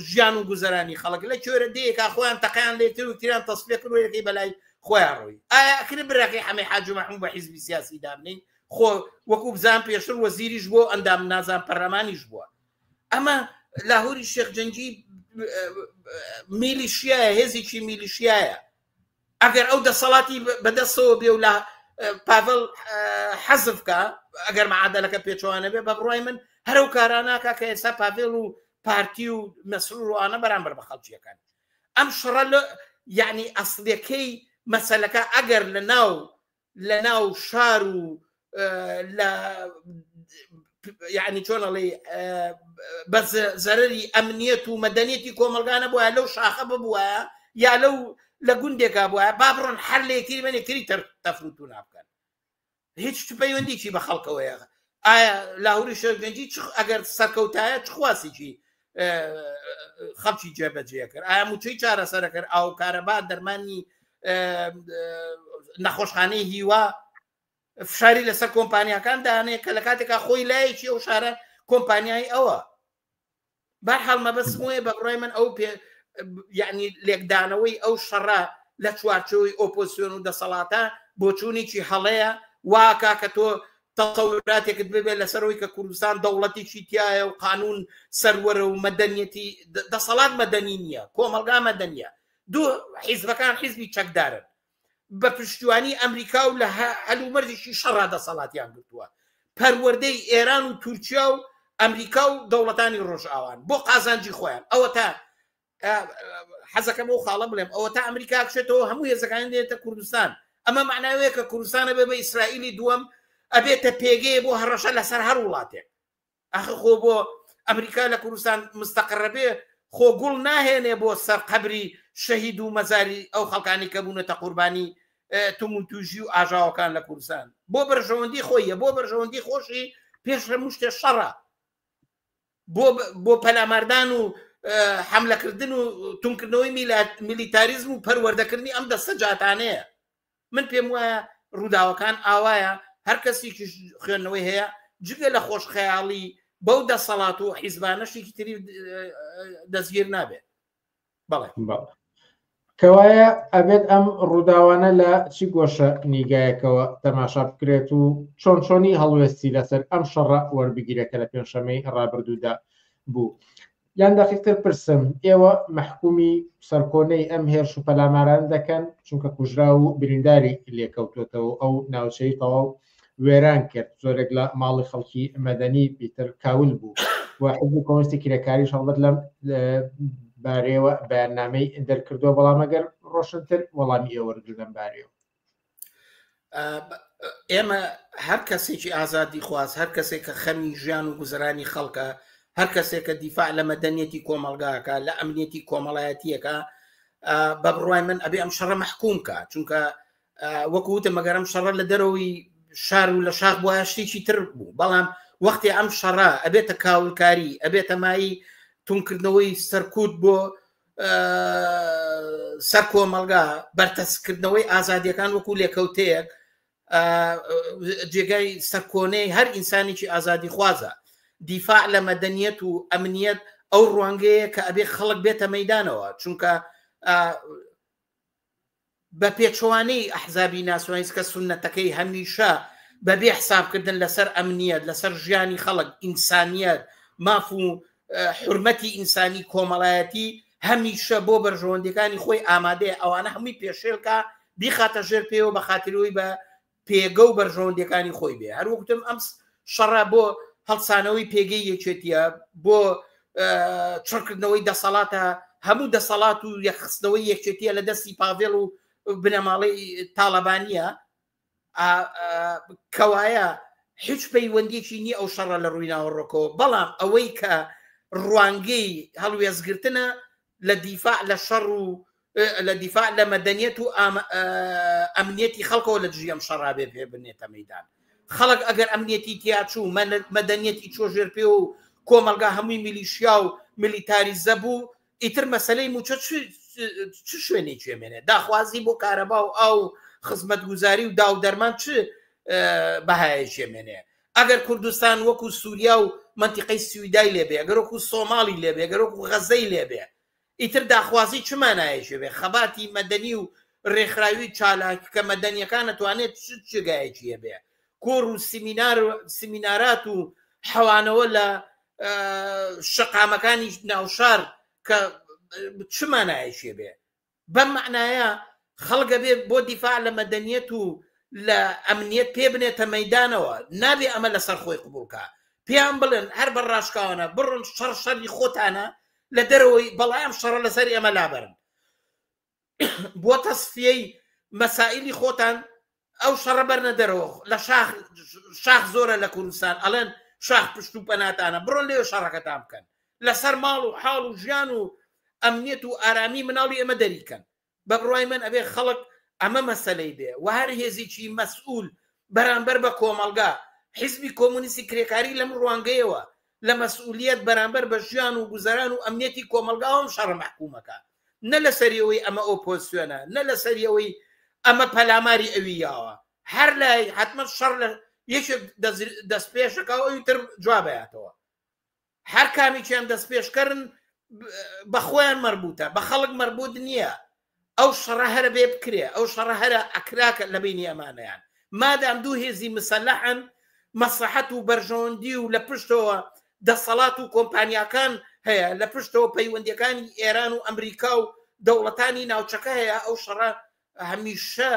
ژیان و گوزەرانی خەڵک لە کوێرە دەیەکە خۆیان تەقیان لێ کرد و تیران تەسفێ کروەکەی بەلای خۆیان ڕووی ئایا ئەکرێ براکەی حەمەی حاجی مەحموو بە حیزبی سیاسی دابنین خۆ وەکو بزان پێشتر وەزیریش بۆ ئەندام نازان پەرلەمانیش بووە ئەمە لاهوری شێخ جەنگی میلیشیایە هێزێکی میلیشیایە ئەگەر ئەو دەسەڵاتی بەدەستەوە بێ و لە پاڤل حەزف کا ئەگەر معادلەکە پێچوانە بێ بە بڕای من هەرو کاراناکە کە ئێستا پاڤێل و پارتی و مەسرور و ئانە بەرامبەر بە خەڵکیەکان ئەم شڕە لە یعنی ئەسلەکەی مەسلەکە ئەگەر لە ناو لە ناو شار و لە یعنی چۆن ئەڵێ بە زەرری ئەمنیەت و مەدەنیەتی کۆمەلگانە بووە لەو شاخە ببووە یا لەو لە گوندێکا بووە با بڕۆن هەر لە یەکتری بەن یەکتری تەفروتو نابکەن هیچ پەیوەندیی بە خەڵکەوەیە ئایا لاهوری شەرگەنجی ئەگەر سەرکەوتایە چخواسیی خەڵکی جێبەجێ کرد ئایا موچەی چارەسەرە کرد ئاو کارەبا دەرمانی نەخۆشخانەی هیوا فشاری لەسەر کۆمپانیەکان دانێ کە لە کاتێکا خۆی لایەکی ئەو شارە کۆمپانیای ئەوە بەحاڵ مەبەست وێ بە بڕای من ئەو پێ یعنی لێکدانەوەی ئەو شەڕە لە چوارچەوەی ئۆپۆسیۆن و دەسەڵاتە بۆچوونێکی هەڵەیە واکە کە تۆ تەسەوراتێکت ببێت لەسەر ئەوەی کە کوردستان دەوڵەتیشی تایە و قانون سەروەرە و مەدەنیەتی دەسەڵات مەدەنی نییە کۆمەلگا مەدەنیە دوو حیزبەکان حیزبی چەکدارن بە پشتیوانی ئەمریکا و لە هەلومەرجشی شەڕا دەسەڵاتیان گرتووە پەروەردەی ئێران و تورکیا و ئەمریکا و دەوڵەتانی ڕۆژئاوان بۆ قازانجی خۆیان ئەوە تا کە حەزەکەم ئەو خاڵە بڵێم ئەوە تا ئەمریکا بچێتەوە هەموو هێزەکان دێتە کوردستان ئەمە معناوەیە کە کوردستانە بێ بە ئیسرائیلی دووەم ئەبێتە پێگەیە بۆ هەڕەشە لەسەر هەر وڵاتێک ئەخ خۆ بۆ ئەمریکا لە کوردستان مستەقڕەبێ خۆ گوڵ ناهێنێ بۆ سەر قەبری شەهید و مەزاری ئەو خەڵکانی کە بوونەتە قوربانی تومون توژی و ئاژاوەکان لە کوردستان بۆ بەرژەوەندی خۆیە بۆ بەرژەوەندی خۆشی پێش لە مشتێ شەڕە بۆ پەلاماردان و حەملەکردن و تونکردنەوەی میلیتاریزم و پەروەردەکردنی ئەم دەستە جاتانەیە من پێم وایە ڕووداوەکان ئاوایە هەر کەسیکیش خوێندنەوەی هەیە جگە لە خۆش خەیاڵی بەو دەسەڵات و حیزبانەشتێکی تری دەستگیر نابێت بەڵێ کەوایە ئەبێت ئەم ڕووداوانە لە چی گۆشە نیگایەکەوە تەماشا بکرێت و چۆن چۆنی هەڵوێستی لەسەر ئەم شەڕە وەربگیرێکە لە پێنجشەمەی ڕابردوودا بوو یان دەقیقتر پرسم ئێوە مەحکومی سەرکۆنەی ئەم هێرش و پەلاماران دەکەن چونکە کوژرا و برینداری لێکەوتوتەوە ئەو ناوچەی تەواو وێران کرد زۆرێک لە ماڵی خەڵکی مەدەنی پیتر کاول بوو و حزبی کۆنستی کرێکاری هەڵبەت لەم بارەیەوە بەیاننامەی دەرکردو بەڵامەگەر ڕۆشنتر وەڵامی ئێوەرگل لەم بارەیەوە ئێمە هەر کەسێکی ئازادی خواز هەر کەسێک کە خەمی ژیان و گوزرانی خەڵکە هەر کەسێک کە دیفاع لە مەدەنیەتی کۆمەلگاکە لە ئەمنیەتی کۆمەڵایەتیەکە بە بڕای من ئەبێ ئەم شەڕە محکوم کە چونکە وەکو وتە مەگەرم شەڕە لە دەرەوەی شار و لە شاخ بووە شتێکی تر بوو بەڵام وەختی ئەم شەڕە ئەبێتە کاولکاری ئەبێتە مایی تونکردنەوەی سەرکوت بۆ سەر کۆمەلگا بەرتەسکردنەوەی ئازادیەکان وەکو لێکەوتەیەک جێگای سەرکۆنەی هەر ئینسانێکی ئازادی خوازە دیفاع لە مەدەنیەت و ئەمنیەت ئەو ڕوانگەیە کە ئەبێ خەڵک بێتە مەدانەوە چونکە بە پێچەوانەی ئەحزابی ناسیۆنالیست کە سوننەتەکەی هەمیشە بە بێ حسابکردن لەسەر ئەمنیەت، لەسەر ژیانی خەڵک، ئینسانیەت، ماف و حورمەتی ئینسانی، کۆمەڵایەتی، هەمیشە بۆ بەرژەوەندیەکانی خۆی ئامادەیە ئەوانە هەمووی پێشێلکا بیخاتە ژێر پێوە بە خاتری ئەوەی بە پێگە و بەرژەوەندەکانی خۆی بێ هەر وەکتم ئەم شەڕە بۆ هەڵسانەوەی پێگەی یەکێتیە بۆ چڕکردنەوەی دەسەڵاتە هەموو دەسەڵات و یەخستنەوەی یەکێتیە لە دەستی پاڤێڵ و بنەماڵی تاالبانە کەوایە هیچ پەیوەندیکی نی ئەو شەڕە لە ڕووی ناوەڕۆکەوە بەڵام ئەوەی کە ڕوانگەی هەڵوێزگرتنە لە دیفاع لە شەڕ و لە دیفاع لە مەدەنیەت و ئەمنیەتی خەڵکەوە لە دژی ئەم شەڕابێ پێ بنێتە مەدان خەڵک ئەگەر ئەمنیەتی تیاچوو مەدەنیەتی چۆ ژێر پێ و کۆمەلگا هەمووی میلیشیا و ملیتاریزە بوو ئیتر مەسلەی موچە چ شوێنی چێمێنێ داخوازی بۆ کارەبا و ئاو خزمەت گوزاری و داو دەرمان چ بەهایە چێمێنێ ئەگەر کوردستان وەکو سوریا و مەنتیقەی سویدای لێ بێ ئەگەر وەکو سۆماڵی لێ بێ ئەگەر وەکو غەزەی لێ بێ ئیتر داخوازی چ مانایەکی بێ خەباتی مەدەنی و ڕێکخراوی چالاکە مەدەنیەکان ئەتوانێت چ جێگایەکی هەبێ کۆڕ و سیمینار و سیمینارات و حەوانەوە لە شەقامەکانی ناوشار کە چ مانایەکی بێ بەم مەعنایە خەڵک ئەبێ بۆ دیفاع لە مەدەنیەت و لە ئەمنیەت پێ بنێتە مەیدانەوە، نابێ ئەمە لەسەر خۆی قبوڵ کا. پێیان بڵێن هەر بە ڕاشکاوانە بڕۆن شەڕ شەری خۆتانە لە دەرەوەی، بەڵای ئەم شەڕە لەسەر ئێمە لابەرن. بۆ تەسفیەی مەسائیلی خۆتان ئەو شەڕە بەرنە دەرەوە لە شاخ شاخ زۆرە لە کوردستان ئەڵێن شاخ پشت و پەناتانە بڕۆن لێ شەڕەکەتان بکەن لەسەر ماڵ و حاڵ و ژیان و ئەمنیەت و ئارامی مناڵی ئەمە دەریکەن بە بڕای من ئەبێ خەڵک ئەمە مەسلەی بێ و هەر هێزیی مەسئول بەرامبەر بە کۆمەڵگا حیزبی کۆمونیستی کرێکاری لەم ڕوانگەیەوە لە مەسئولیەت بەرامبەر بە ژیان و گوزەران و ئەمنیەتی کۆمەڵگا ئەم شەڕە مەحکووم ئەکات نە لە سەری ئەوەی ئەمە ئۆپۆزسیۆنە نە لە سەری ئەوەی ئەمە پەلاماری ئەوی یاوە هەر لای حتممە شەڕ لە یەکێک دەست پێشەکە و ئەوی تر جوابەتەوە هەر کامیان دەست پێشکەرن بە خۆیان مەربووتە بە خەڵک مەربووت نییە ئەو شەڕە هەرە بێ بکرێ ئەو شەڕە هەرە ئەکراکە لە بەینی ئەمانەیان مادام دوو هێزی مسەلەحن مەسلەحەت و بەرژەوەندی و لە پشتەوە دەسەڵات و کۆمپانیاکان هەیە لە پشتەوە پەیوەندیەکانی ئێران و ئەمریکا و دەوڵەتانی ناوچەکە هەیە ئەو شەڕە هەمیشە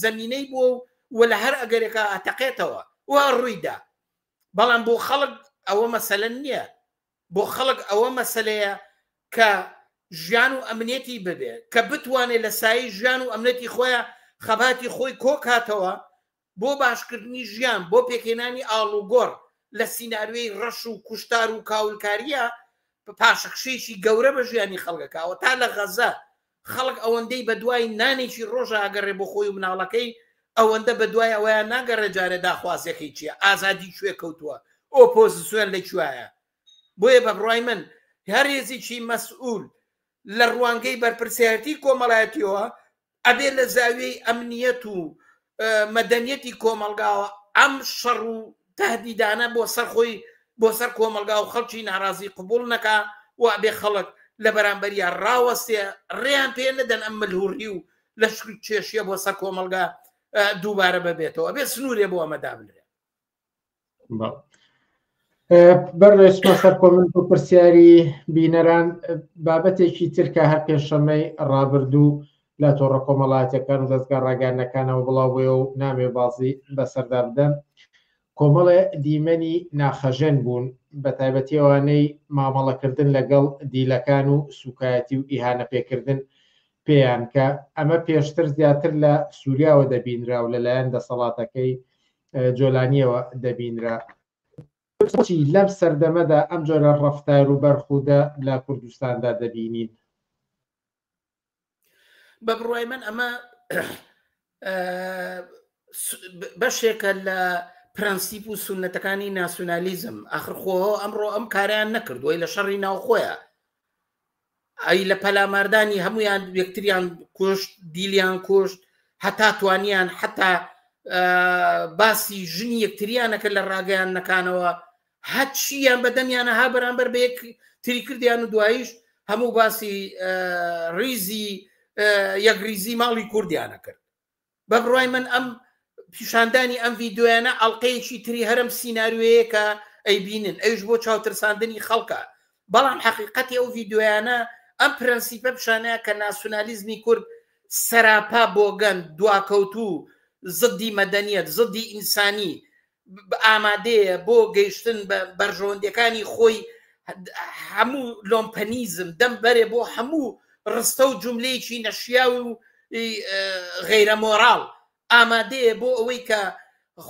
زەمینەی بووە و و لە هەر ئەگەرێکە ئەتەقێتەوە و ڕوویدا بەڵام بۆ خەڵک ئەوە مەسەلە نییە بۆ خەڵک ئەوە مەسەلەیە کە ژیان و ئەمنێتی ببێ کە بتوانێت لە سایی ژیان و ئەمنەتی خۆیان خەباتی خۆی کۆکاتەوە بۆ باشکردنی ژیان بۆ پێکهێنانی ئاڵوگۆڕ لە سینناروی ڕەش و کوشتار و کاولکاریە پاشەخشێکی گەورە بە ژیانی خەڵگەکەوە تا لە غەزە خەڵک ئەوەندەی بەدوای نانێکی ڕۆژە ئەگەڕێ بۆ خۆی و مناڵەکەی، ئەوەندە بەدوای ئەوەیان ناگەڕێ جارێ داخوازیەکەی چیە، ئازادی کوێ کەوتووە، ئۆپۆزسیۆن لە کوێیە. بۆیە بە بڕای من هەر هێزیکی مەسئول لە ڕوانگەی بەرپرسیارەتی کۆمەڵایەتیەوە ئەبێ لە زاویەی ئەمنیەت و مەدەنیەتی کۆمەڵگاوە ئەم شەڕ و تەهدیدانە بۆ سەر خۆی بۆ سەر کۆمەلگا و خەڵکی ناڕازی قبوڵ نەکا و ئەبێ خەڵک لە بەرامبەریا ڕاوەستێ ڕێیان پێ نەدەن ئەم ملهوڕی و لە شکل کێشیە بۆ سەر کۆمەلگا دووبارە بەبێتەوە ئەبێ سنوورێ بۆ ئەمە دابنرێ بەرێشمە سەر کۆمنت و پرسیاری بینەران بابەتێکی ترکە هەر پێشەمەی ڕابردوو لە تۆڕە کۆمەڵایەتیەکان و دەزگا ڕاگەیاندنەکانەوە بڵاو بووە و نامێ بازی بەسەردا بدەن، کۆمەڵێ دیمەنی ناخهەژێن بوون، بە تایبەتی ئەوانەی مامەڵەکردن لەگەڵ دیلەکان و سووکایەتی و ئیهانە پێکردن پێیان، کە ئەمە پێشتر زیاتر لە سووریاوە دەبینرا و لەلایەن دەسەڵاتەکەی جۆلانیەوە دەبینرا. بۆچی لەم سەردەمەدا ئەم جۆرە ڕەفتار و بەرخوودە لە کوردستاندا دەبینین؟ بە بڕوای من ئەمە بەشێکە لە پرەنسیپ و سونەتەکانی ناسیۆنالیزم ئەخرخۆ ئەمڕۆ ئەم کاریان نەکردووی لە شەڕی ناوخۆیە ئەی لە پەلاماردانی هەمویان یەکتریان کوشت دیلیان کوشت هەتا توانیان حتا باسی ژنی یەکتریانەکە لە ڕاگەیان نەکانەوە هەرچییان بەدەمیانە ها بەرامبەر بە یەک تری کردیان و دواییش هەموو باسی ریزی یەکریزی ماڵی کوردیانە کرد بە بڕای من ئەم پیشاندانی ئەم ڤیددیویانە ئەڵلقەیەکی تری هەرم سینناروەیە کە ئەی بینن ئەوش بۆ چاوترساندنی خەڵکە بەڵام حقیقەتی ئەو ڤیددیویانە ئەم پرەنسیپە پیشانەیە کە ناسیۆنالیزمی کورد سەراپا بۆگەن دواکەوتوو زدی مەدەنیەت زدی ئینسانی ئامادەیە بۆ گەیشتن بە بەرژەوەندیەکانی خۆی هەموو لۆمپەنیزم دەم بەرێ بۆ هەموو ڕستە و جملەیەکی نەشیاوی و غیرە مۆراڵ ئامادەیە بۆ ئەوەی کە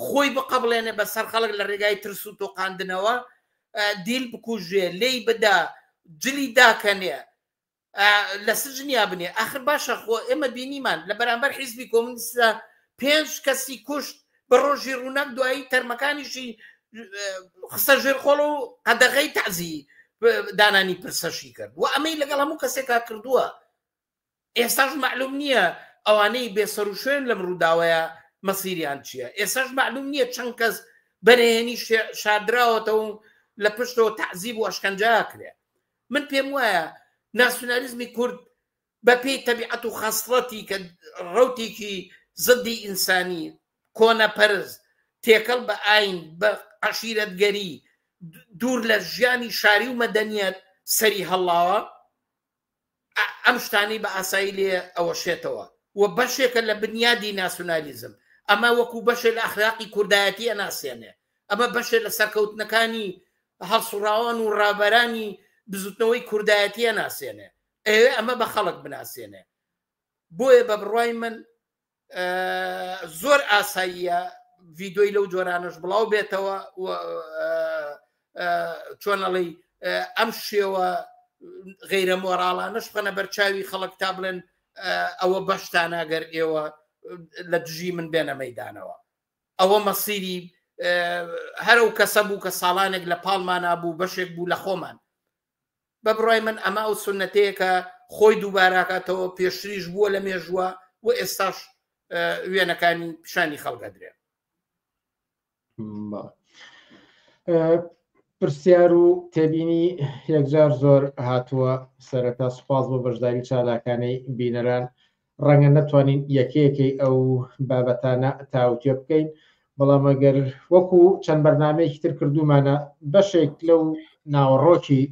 خۆی بقبلێنێ بە سەر خەڵک لە ڕێگای ترس و تۆقااندنەوە دیل بکوژێ لی بدا جلی داکەنێ لە سجنیا بنێ ئاخر باشە خۆ ئێمە بینیمان لە بەرامبەر حیزبی کۆمنیستە پێنج کەسی کوشت بە ڕۆژی ڕووناک دوایی تەرمەکانیشی خستە ژێر خۆڵ و قەدەغی تازی دانانی پرسەشی کرد و ئەمەی لەگەڵ هەموو کەسێکا کردووە ئێستاش معلوم نییە ئەوانەی بێسەر و شوێن لەم ڕووداوەیە مەسیریان چییە ئێساش معلوم نییە چەند کەس بەرێنی شادراوەتەوە لە پشتەوە تعزیب و ئەشکەنجاکرێ من پێم وایە ناسیونالیزمی کورد بە پێی تەبیعەت و خەسڵەتی کە ڕوتێکی زدی ئینسانی کۆنەپەرز تێکەڵ بە ئاین بە عشیرەتگەری دوور لە ژیانی شاری و مەدەنیەت سەری هەڵاوە ئەم شتانی بە ئاسایی لێ ئەوەشێتەوە و بەشێکە لە بنیادی ناسیونالیزم ئەمە وەکو بەشێ لە ئەخراقی کوردایەتی ئەناسیێنێ ئەمە بەشێ لە سەرکەوتنەکانی هەڵسوڕاوان و ڕابەرانی بزوتنەوەی کوردایەتیە ناسێنێ ئەوێ ئەمە بە خەڵک بناسێنێ بۆیە بە بڕای من زۆر ئاساییە ڤیدۆی لەو جۆرانش بڵاو بێتەوە چۆنەڵی ئەم شێوە غیرە مۆراڵانش خەنە بەرچاوی خەڵک تا بڵێن ئەوە بەشتاناگەر ئێوە لە دژی من بێنە مەدانەوە ئەوە مەسیری هەر ئەو کەسە بوو کە ساڵانێک لە پاڵمانا بوو بەشێک بوو لە خۆمان بە بڕای من ئەمە ئەو سنەتەیەکە خۆی دووباراکاتەوە پێشتریش بووە لە مێژووە و ئێستاش وێنەکانی پیشانی خەڵگەدرێ پرسیار و تێبینی یەکجار زۆر هاتووە سەرەتا سوپاس بۆ بەشداری چالاکانەی بینەران ڕەنگە نەتوانین یەکەیەکەی ئەو بابەتانە تاوتوێ بکەین، بەڵام ئەگەر وەکو چەند بەرنامەیەکی تر کردوومانە بەشێک لەو ناوەڕۆکی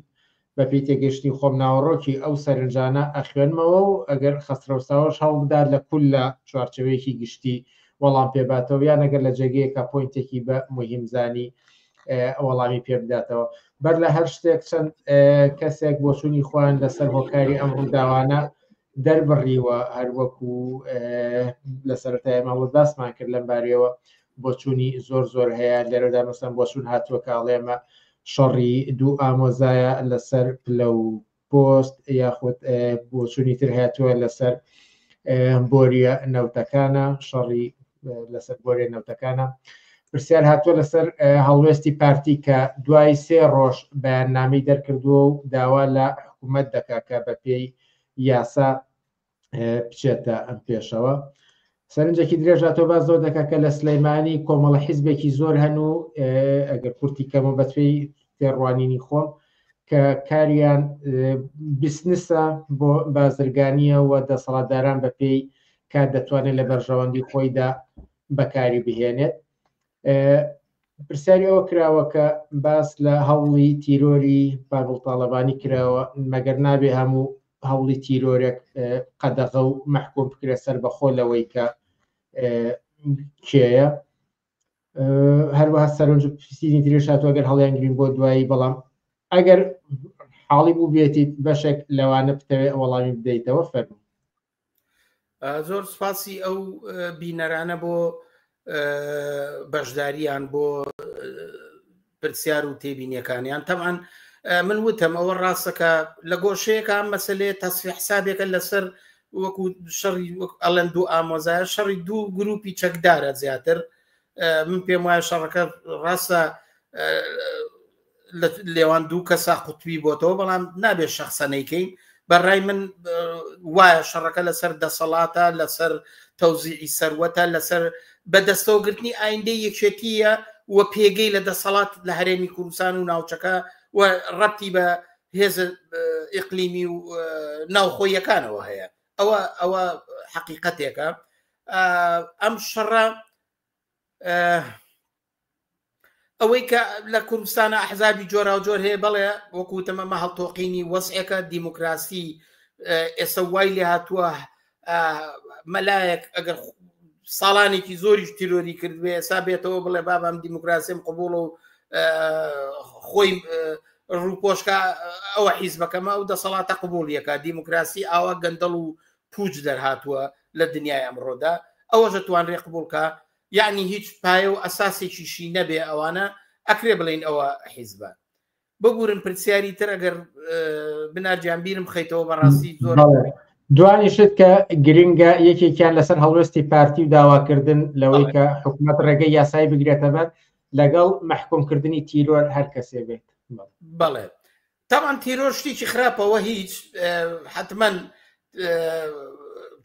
بەپێی تێگەشتنی خۆم ناوەڕۆکی ئەو سەرنجانە ئەخوێنمەوە و ئەگەر خەسرەوساوەش هەوڵبدات لە کول لە چوارچەوەیەکی گشتی وەڵام پێباتەوە یان ئەگەر لە جێگەیەکە پوینتێکی بە مهمزانی وەڵامی پێ بداتەوە بەر لە هەر شتێک چەند کەسێک بۆچوونی خۆیان لەسەر هۆکاری ئەم ڕووداوانە دەربڕیوە هەروەکو لە سەرەتای ماڵە باسمان کرد لەم بارەوە بۆچوونی زۆر زۆر هەیە لێرەدا مەسەن بۆچون هاتووە کاڵێمە شەڕی دوو ئامۆزایە لەسەر پلە و پۆست یاخود بۆچوونی تر هاتووە لەسەر بۆریە نەوتەکانە شەڕی لەسەر بۆرێ نەوتەکانە پرسیار هاتووە لەسەر هەڵوێستی پارتی کە دوای سێ ڕۆژ بەیاننامی دەرکردووە و داوا لە حکوومەت دەکا کە بە پێی یاسا بچێتە ئەم پێشەوە سەرنجێکی درێژا تۆ باز زۆر دەکە کە لە سلەیمانی کۆمەڵە حیزبێکی زۆر هەن و ئەگەر کورتی کەمە بەچی تێڕوانینی خۆم کە کاریان بیسنسە بۆ بازرگانیە و دەسەڵاتداران بە پێی کات دەتوانێت لە بەرژەوەندی خۆیدا بەکاری بهێنێت پرسیاری ئەوە کراوە کە باس لە هەوڵی تیرۆری پاگڵ تاالبانی کراوە مەگەر نابێ هەموو هەوڵی تیرۆرێک قەدەغە و مەحکوم بکرێت سەر بەخۆ لەوەی کە کێە هەروەها سەرنج پرسیدی ترێش هاتووە گەر هەڵیانگرین بۆ دوایی بەڵام ئەگەر حاڵی بوو بێتیت بەشێک لەوانە بتەوێت وەڵامی بدەیتەوە فەرمی زۆر سپاسی ئەو بینەرانە بۆ بەشداریان بۆ پرسیار و تێبینیەکانیان تەمان من وتم ئەوە ڕاستەکە لە گۆشەیەەکە مەسلێ تەسفی حسابێکە لەسەر وەکو شەڕی ئەلەن دوو ئامۆزای شەڕی دوو گروپی چەکدارە زیاتر من پێم وایە شەڕەکە ڕاستە لێوان دوو کەسا قوتبی بۆتەوە بەڵام نابێت شخصەنەیکەین بەڕای من وایە شەڕەکە لەسەر دەسەڵاتە لەسەر تەوزیعی سەروەتە لەسەر بەدەستەوەگرتنی ئایندە یەکێتیە و پێگەی لە دەسەڵات لە هەرێمی کوردستان و ناوچەکە و ڕەتی بە هێز ئقلیمی و ناوخۆیەکانەوە هەیە ئەوە ئەوە حقیقەتێکە ئەم شەڕە ئەوەی کە لە کوردستانە ئەحزابی جۆراوجۆر هەیە بەڵێ وەکوتم ئەمە هەڵتۆقینی وەزعەکە دیموکراسی ئێستا وای لێ هاتووە مەلایەک ئەگەر ساڵانێکی زۆریش تیرۆری کردوێ ئێستا بێتەوە بڵێ بابام دیموکراسیم قوبوڵە و خۆی ڕووپۆشکە ئەوە حیزبەکەمە ئەو دەسەڵاتە قوبولیەکە دیموکراسی ئاوا گەندەڵ و پوچ دەرهاتووە لە دنیای ئەمڕۆدا ئەوەشە توانرێ قبولکە یەعنی هیچ پایە و ئەساسێکیشی نەبێ ئەوانە ئەکرێ بڵێین ئەوە حیزبە ببورن پرسیاری تر ئەگەر بنارجان بیرم خەیتەوە بەڕاستی زۆر دوانیشت کە گرنگە یەکێکیان لەسەر هەڵوێستی پارتی و داواکردن لەوەی کە حکوومەت ڕێگەی یاسایی بگرێتە بەر لەگەڵ محکومکردنی تیرۆر هەر کەسێ بێت بەڵێ تەبعەن تیرۆر شتیکی خراپە وە هیچ حەتمەن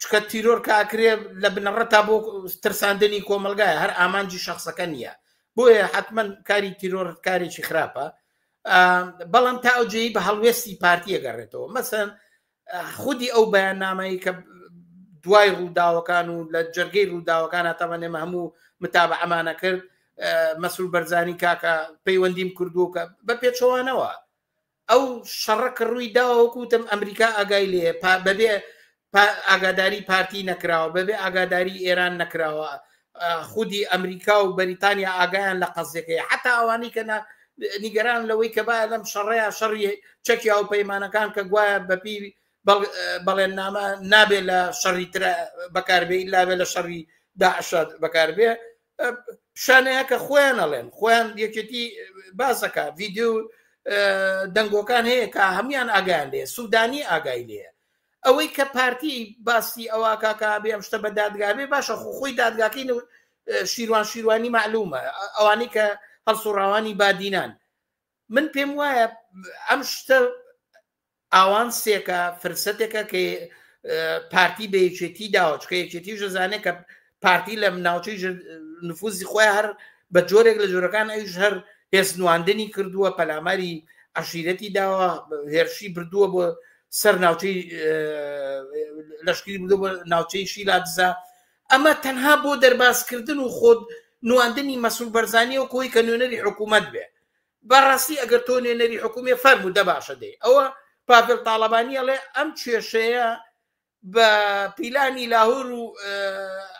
چکە تیرۆر کاکرێ لە بنەڕە تا بۆ ترساندنی کۆمەلگای هەر ئامانجی شخصەکە نییە بۆیە حتمما کاری تیرۆر کارێکی خراپە بەڵام تا ئەوجێی بە هەڵوێستی پارتیە گەڕێتەوە مەسەن خودی ئەو بەیاننامەی کە دوای ڕووداوەکان و لە جەرگەی ڕووداوەکان هاتەمەێمە هەموو متابە ئەمانە کرد مەسول بەرزانی کاکە پەیوەندیم کردووە کە بە پێچەوانەوە ئەو شەڕە کە ڕووی داوەکوتم ئەمریکا ئاگای لێ بەبێ ئاگاداری پارتی نەکراوە بەبێ ئاگاداری ئێران نەکراوە خودی ئەمریکا و بەریتانیا ئاگایان لە قەزیەکەی حتا ئەوانی کە نیگەران لەوەی کە باە لەم شەڕەیە شەڕی چەکی ئەو پەیمانەکان کە گوایە بەپی بەڵێننامە نابێت لە شەڕی ترە بەکاربێ لابێ لە شەڕی داعشاد بەکاربێ شانەیە کە خۆیان ئەڵێن خۆیان یەکێتی باسەکە ڤیددیو دەنگۆکان هەیە کە هەمان ئاگیان لێ سوودانی ئاگای لێە ئەوەی کە پارتی باسی ئەوا کاکە ئابی ئەم شتە بە دادگا بێ باشە خۆ خۆی دادگاکەی نەوت شیروان شیروانی معلومە ئەوانی کە هەڵسوڕاوانی بادینان من پێم وایە ئەم شتە ئاوان سێکە فرسەتێکە کە پارتی بە یەکێتی داوە چکە یەکێتی ژەزانێک کە پارتی لە ناوچەی نفوزی خۆی هەر بە جۆرێک لە جۆرەکان ئەوش هەر هێزنواندنی کردووە پەلاماری عشیرەتی داوە هێرشی بردووە بۆ سەر ناوچەی لەشکری بردو بە ناوچەی شیلا دزا ئەمە تەنها بۆ دەربازکردن و خۆت نواندنی مەسول بەرزانانی و کۆی کە نوێنەری حکوومەت بێ بەڕاستی ئەگەر تۆ نوێنەری حکوومی فەرمو دەباشە دەی ئەوە پاپل تاالبانیە لێ ئەم کێشەیە بە پیلانی لاهور و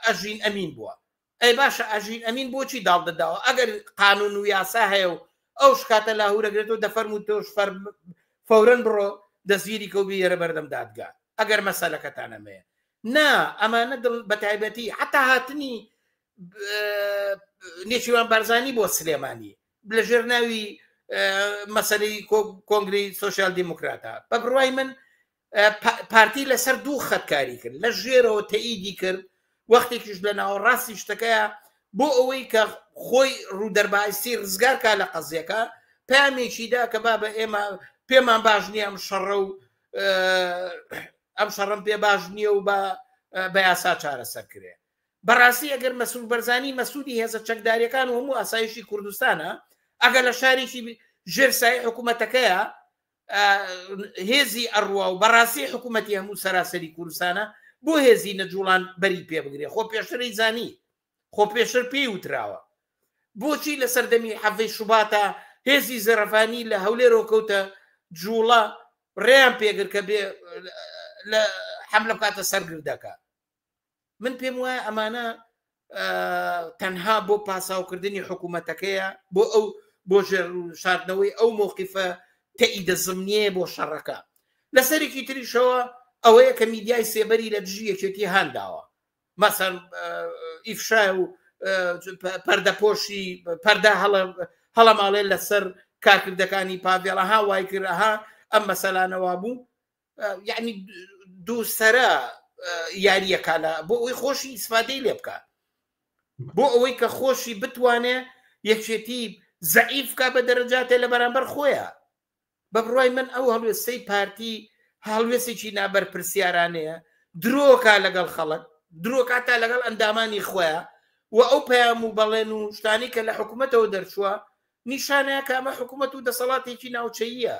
ئەژین ئەمین بووە ئەی باشە ئەژین ئەمین بۆچی داڵدەداوە ئەگەر قانون و یاسا هەیە و ئەو شکاتە لاهورەگرێت و دەفەرم و تۆش فەر فورن بڕۆ دەستگیری کەوبی یێرە بەردەم دادگا ئەگەر مەسەلەکەتانەمەیە نا ئەمانە دڵ بە تایبەتی حتا هاتنی نێچیوان بارزانانی بۆ سلێمانی لە ژێر ناوی مەسەری کۆنگری سوسیال دیموکراتە بە بڕوای من پارتی لەسەر دوو خەت کاری کرد لە ژێرەوە تەئیدی کرد وەختێکیش لە ناوەڕاستی شتەکەیە بۆ ئەوەی کە خۆی ڕوودەربایسی ڕزگارکە لە قەزیەکە پامێکیدا کە با بە ئێمە پێمان باش نییە ئەم شەڕە و ئەم شەڕم پێ باش نییە و بە بە یاسا چارەسەر کرێ بەڕاستی ئەگەر مەسول بەرزانی مەسوودی هێزە چەکداریەکان و هەموو ئاسایشی کوردستانە ئەگەر لە شارێکی ژێرسای حکوومەتەکەیە هێزی ئەڕوا و بەڕاستی حکوومەتی هەموو سەراسەری کوردستانە بۆ هێزی نەجوڵان بەری پێ بگرێ خۆ پێشتری زانی خۆ پێشتر پێی وتراوە بۆچی لە سەردەمی حەڤەی شوباتە هێزی زەرەفانی لە هەولێرەوە کەوتە جوڵە ڕێیان پێگر کە بێ حملە بکاتە سەرگردەکە من پێم وایە ئەمانە تەنها بۆ پاساوکردنی حکوومەتەکەیە بۆ ئەو بۆ ژێر شاردنەوەی ئەو مۆقیفە تەئیدە زمنیە بۆ شەڕەکە لەسەرێکی تریشەوە ئەوەیە کە میدیای سێبەری لە دژی یەکێتی هانداوە مەسەر ئیفشای و پەردەپۆشی پەردا هەڵە هەڵە ماڵێ لەسەر کارکردەکانی پاڤێڵەها وای کردها ئەم مەسەلانەوە بوو یعنی دووسرە یاریەکانە بۆ ئەوی خۆشی ئیسفادەی لێ بکە بۆ ئەوەی کە خۆشی بتوانێ یەکێتی زعیفکە بە دەرەجاتێ لە بەرامبەر خۆیە بە بڕای من ئەو هەڵوێستەی پارتی هەڵوێستێکی نابەرپرسیارانەیە درۆکە لەگەڵ خەڵک درۆکە تا لەگەڵ ئەندامانی خۆیان و ئەو پەیام و بەڵێن و شتانی کە لە حکوومەتەوە دەرچووە نیشانەیە کامە حکوومەت و دەسەڵاتێکی ناوچەیە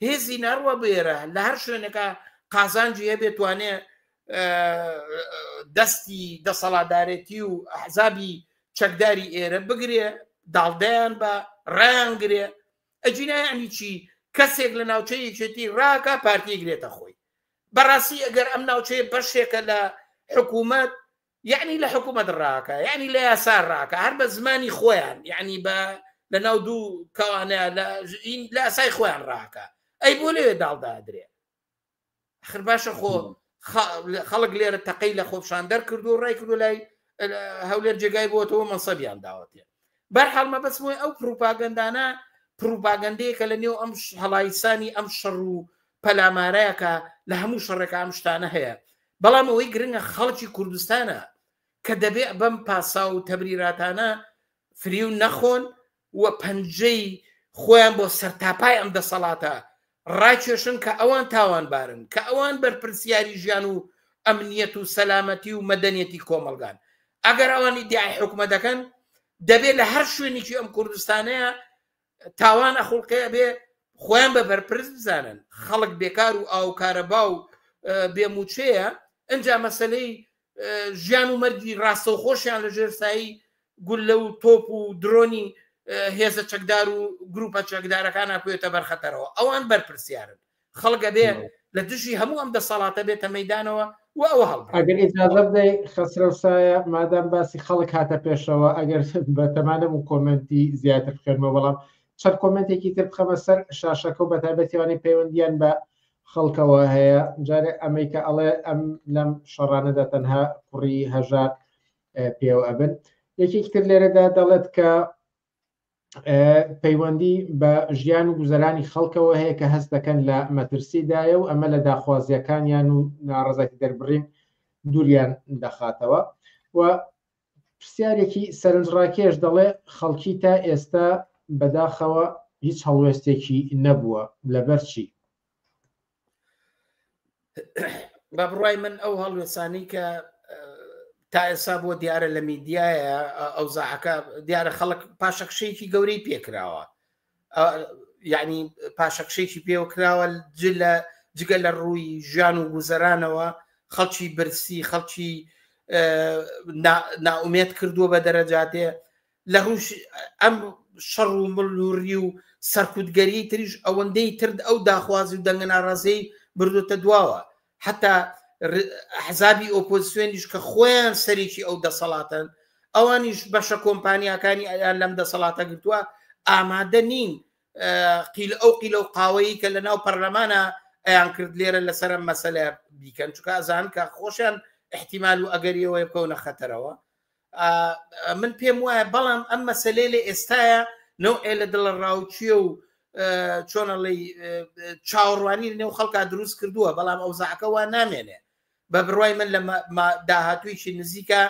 هێزی نەڕوە بێرە لە هەر شوێنەکە قازانجی هەبێت توانێ دەستی دەسەڵاتدارێتی و حەزابی چەکداری ئێرە بگرێ داڵدەیان بە ڕیانگرێ ئەجینایانی چی کەسێک لە ناوچەی یەکێتی ڕاکە پارتی گرێتە خۆی بەڕاستی ئەگەر ئەم ناوچەیە بەشێکە لە حکوومەت یەعنی لە حکوومەت ڕاکە یەعنی لە یاسا ڕاکە هەر بە زمانی خۆیان یەعنی بە لە ناو دوو کەوانە لە لاسای خۆیان ڕاکە ئەی بۆ لەوێ داڵدادرێ خر باشە خۆ خەڵک لێرە تەقەی لە خۆپشان دەرکردو ڕێکردو لای هەولێر جێگای بۆتەوە مەسەبیان داوەتێن بەرحاڵ مەبەست بۆی ئەو پروپاگەندانە پروپاگەندەیەکە لە نێو ئەم هەڵایسانی ئەم شەڕ و پەلامارەیەکە لە هەموو شەڕێکە ئەم شتانە هەیە بەڵام ئەوەی گرنگە خەڵکی کوردستانە کە دەبێ بەم پاسا و تەبریراتانە فریو نەخۆن و پەنجەی خۆیان بۆ سەرتاپای ئەم دەسەڵاتە ڕاکێشن کە ئەوان تاوانبارن، کە ئەوان بەرپرسیاری ژیان و ئەمنیەت و سەلامەتی و مەدەنیەتی کۆمەڵگان. ئەگەر ئەوان ئیدیعای حکومەت دەکەن، دەبێ لە هەر شوێنێکی ئەم کوردستانەیە تاوان ئەخوڵقێ بێ خۆیان بە بەرپرس بزانن، خەڵک بێکار و ئاو کارەبا و بێ موچەیە، ئەنجا مەسەلەی ژیان و مەرگی ڕاستەوخۆشیان لە ژێر سایی گوللە و تۆپ و درۆنی هێزە چەکدار و گروپە چەکدارەکان ناکوێتە بەرخەتەرەوە ئەوان بەرپرسیارن خەڵگە بێ لە دژی هەموو ئەم دەسەڵاتە بێتە مەدانەوە و ئەوە هەڵ ئەگەر ئجازە بدەی خەسرە سایە مادام باسی خەڵک هاتە پێشەوە ئەگەر بە تەمانە و کۆمنتی زیاتر بخێنمە بەڵام چەند کۆمنتێکی تر بخەمە سەر شاشەکە و بەتابەتیوانی پەیوەندیان بە خەڵکەوە هەیە جارێ ئەمەی کە ئەڵێ ئەم لەم شەڕانەدا تەنها کوڕی هەژار پێوە ئەبن یەکێکی تر لێرەدا دەڵێت کە پەیوەندی بە ژیان و گوزەرانی خەڵکەوە هەیە کە هەست دەکەن لە مەترسیدایە و ئەمە لە داخوازیەکانیان و ناڕزای دەربڕین دووریان دەخاتەوە و پرسیارێکی سەرنجڕاکێش دەڵێ خەڵکی تا ئێستا بەداخەوە هیچ هەڵوێستێکی نەبووە لەبەر چی؟ بە بڕای من ئەو هەڵوێسانی کە تا ئێسا بۆ دیارە لە میدیایە ئەو زاعەکە دیارە خەڵک پاشەکشەیەکی گەورەی پێکراوە یعنی پاشەکشێکی پێوە کراوە جلە جگە لە ڕووی ژیان و گوزەرانەوە خەڵکی برسی خەڵکی ناومێت کردووە بە دەرەجاتێ لە ڕوش ئەم شەڕ و ملوری و سەرکوتگەری تریش ئەوەندەی ترد ئەو داخوازی و دەنگە ناڕازەی بردوتە دواوە حتا ئەحزابی ئۆپۆزسیۆنیش کە خۆیان سەرێکی ئەو دەسەڵاتن ئەوانیش بەشە کۆمپانیەکانی ئەیان لەم دەسەڵاتە گرتووە ئامادە نین قیل ئەو قیل و قاوەیی کە لە ناو پەرلەمانە ئەیان کرد لێرە لەسرە مەسەلە بیکەن چکە ئەزان کە خۆشیان احتیمال و ئەگەریەوەی بکەونە خەتەرەوە من پێم وایە بەڵام ئەم مەسلەی لە ئێستاە نەو ئێ لە دڵە ڕاوچیە و چۆنەڵی چاوەڕوانی نێو خەڵکا دروست کردووە بەڵام ئەوزاعەکە وا نامێنێ بە بڕای من لە داهاتویشی نزیکە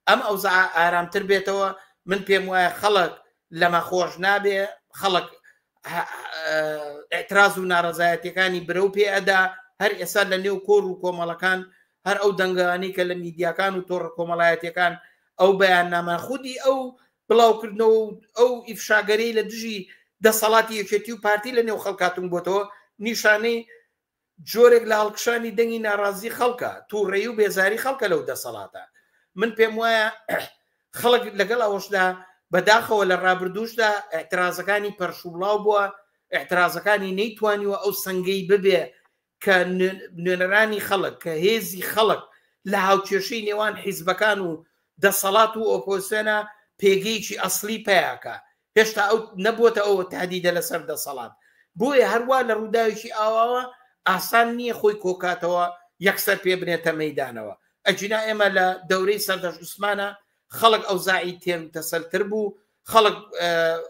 ئەم ئەوزا ئارامتر بێتەوە من پێم وایە خەڵک لەمە خۆش نابێ خەڵک ئەتراز و ناڕزایەتەکانی برە و پێ ئەدا هەر ئێستا لە نێو کۆر و کۆمەڵەکان هەر ئەو دەنگانەی کە لە میدیاکان و تۆڕە کۆمەڵایەتیەکان ئەو بەیاننامە خودی ئەو بڵاوکردنەوە و ئەو ئیفشاگەری لە دژی دەسەڵاتی یەکێتی و پارتی لە نێو خەڵکاتون بۆتەوە نیشانەی جۆرێک لە هەڵکشانی دەنگی ناڕازی خەڵکە تووڕێی و بێزاری خەڵکە لەو دەسەڵاتە من پێم وایە خەڵک لەگەڵ ئەوەشدا بەداخەوە لە ڕابردوشدا احترازەکانی پەرشوبڵاو بووە احترازەکانی نەیتوانیوە ئەو سنگەی ببێ کە نوێنەرانی خەڵک کە هێزی خەڵک لە هاوکێشەی نێوان حیزبەکان و دەسەڵات و ئۆپۆزیسیۆنە پێگەیەکی ئەسلی پیاکە هێشتا ئەو نەبووتە ئەوە تادیدە لەسەر دەسەڵات بۆیە هەروە لە ڕووداوێکی ئاواوە ئاسان نییە خۆی کۆکاتەوە یەکسەر پێ بنێتە مەدانەوە ئەجینا ئێمە لە دەورەی سەردەش عوسمانە خەڵک ئەو زاعی تێم تەسەلتر بوو خەڵک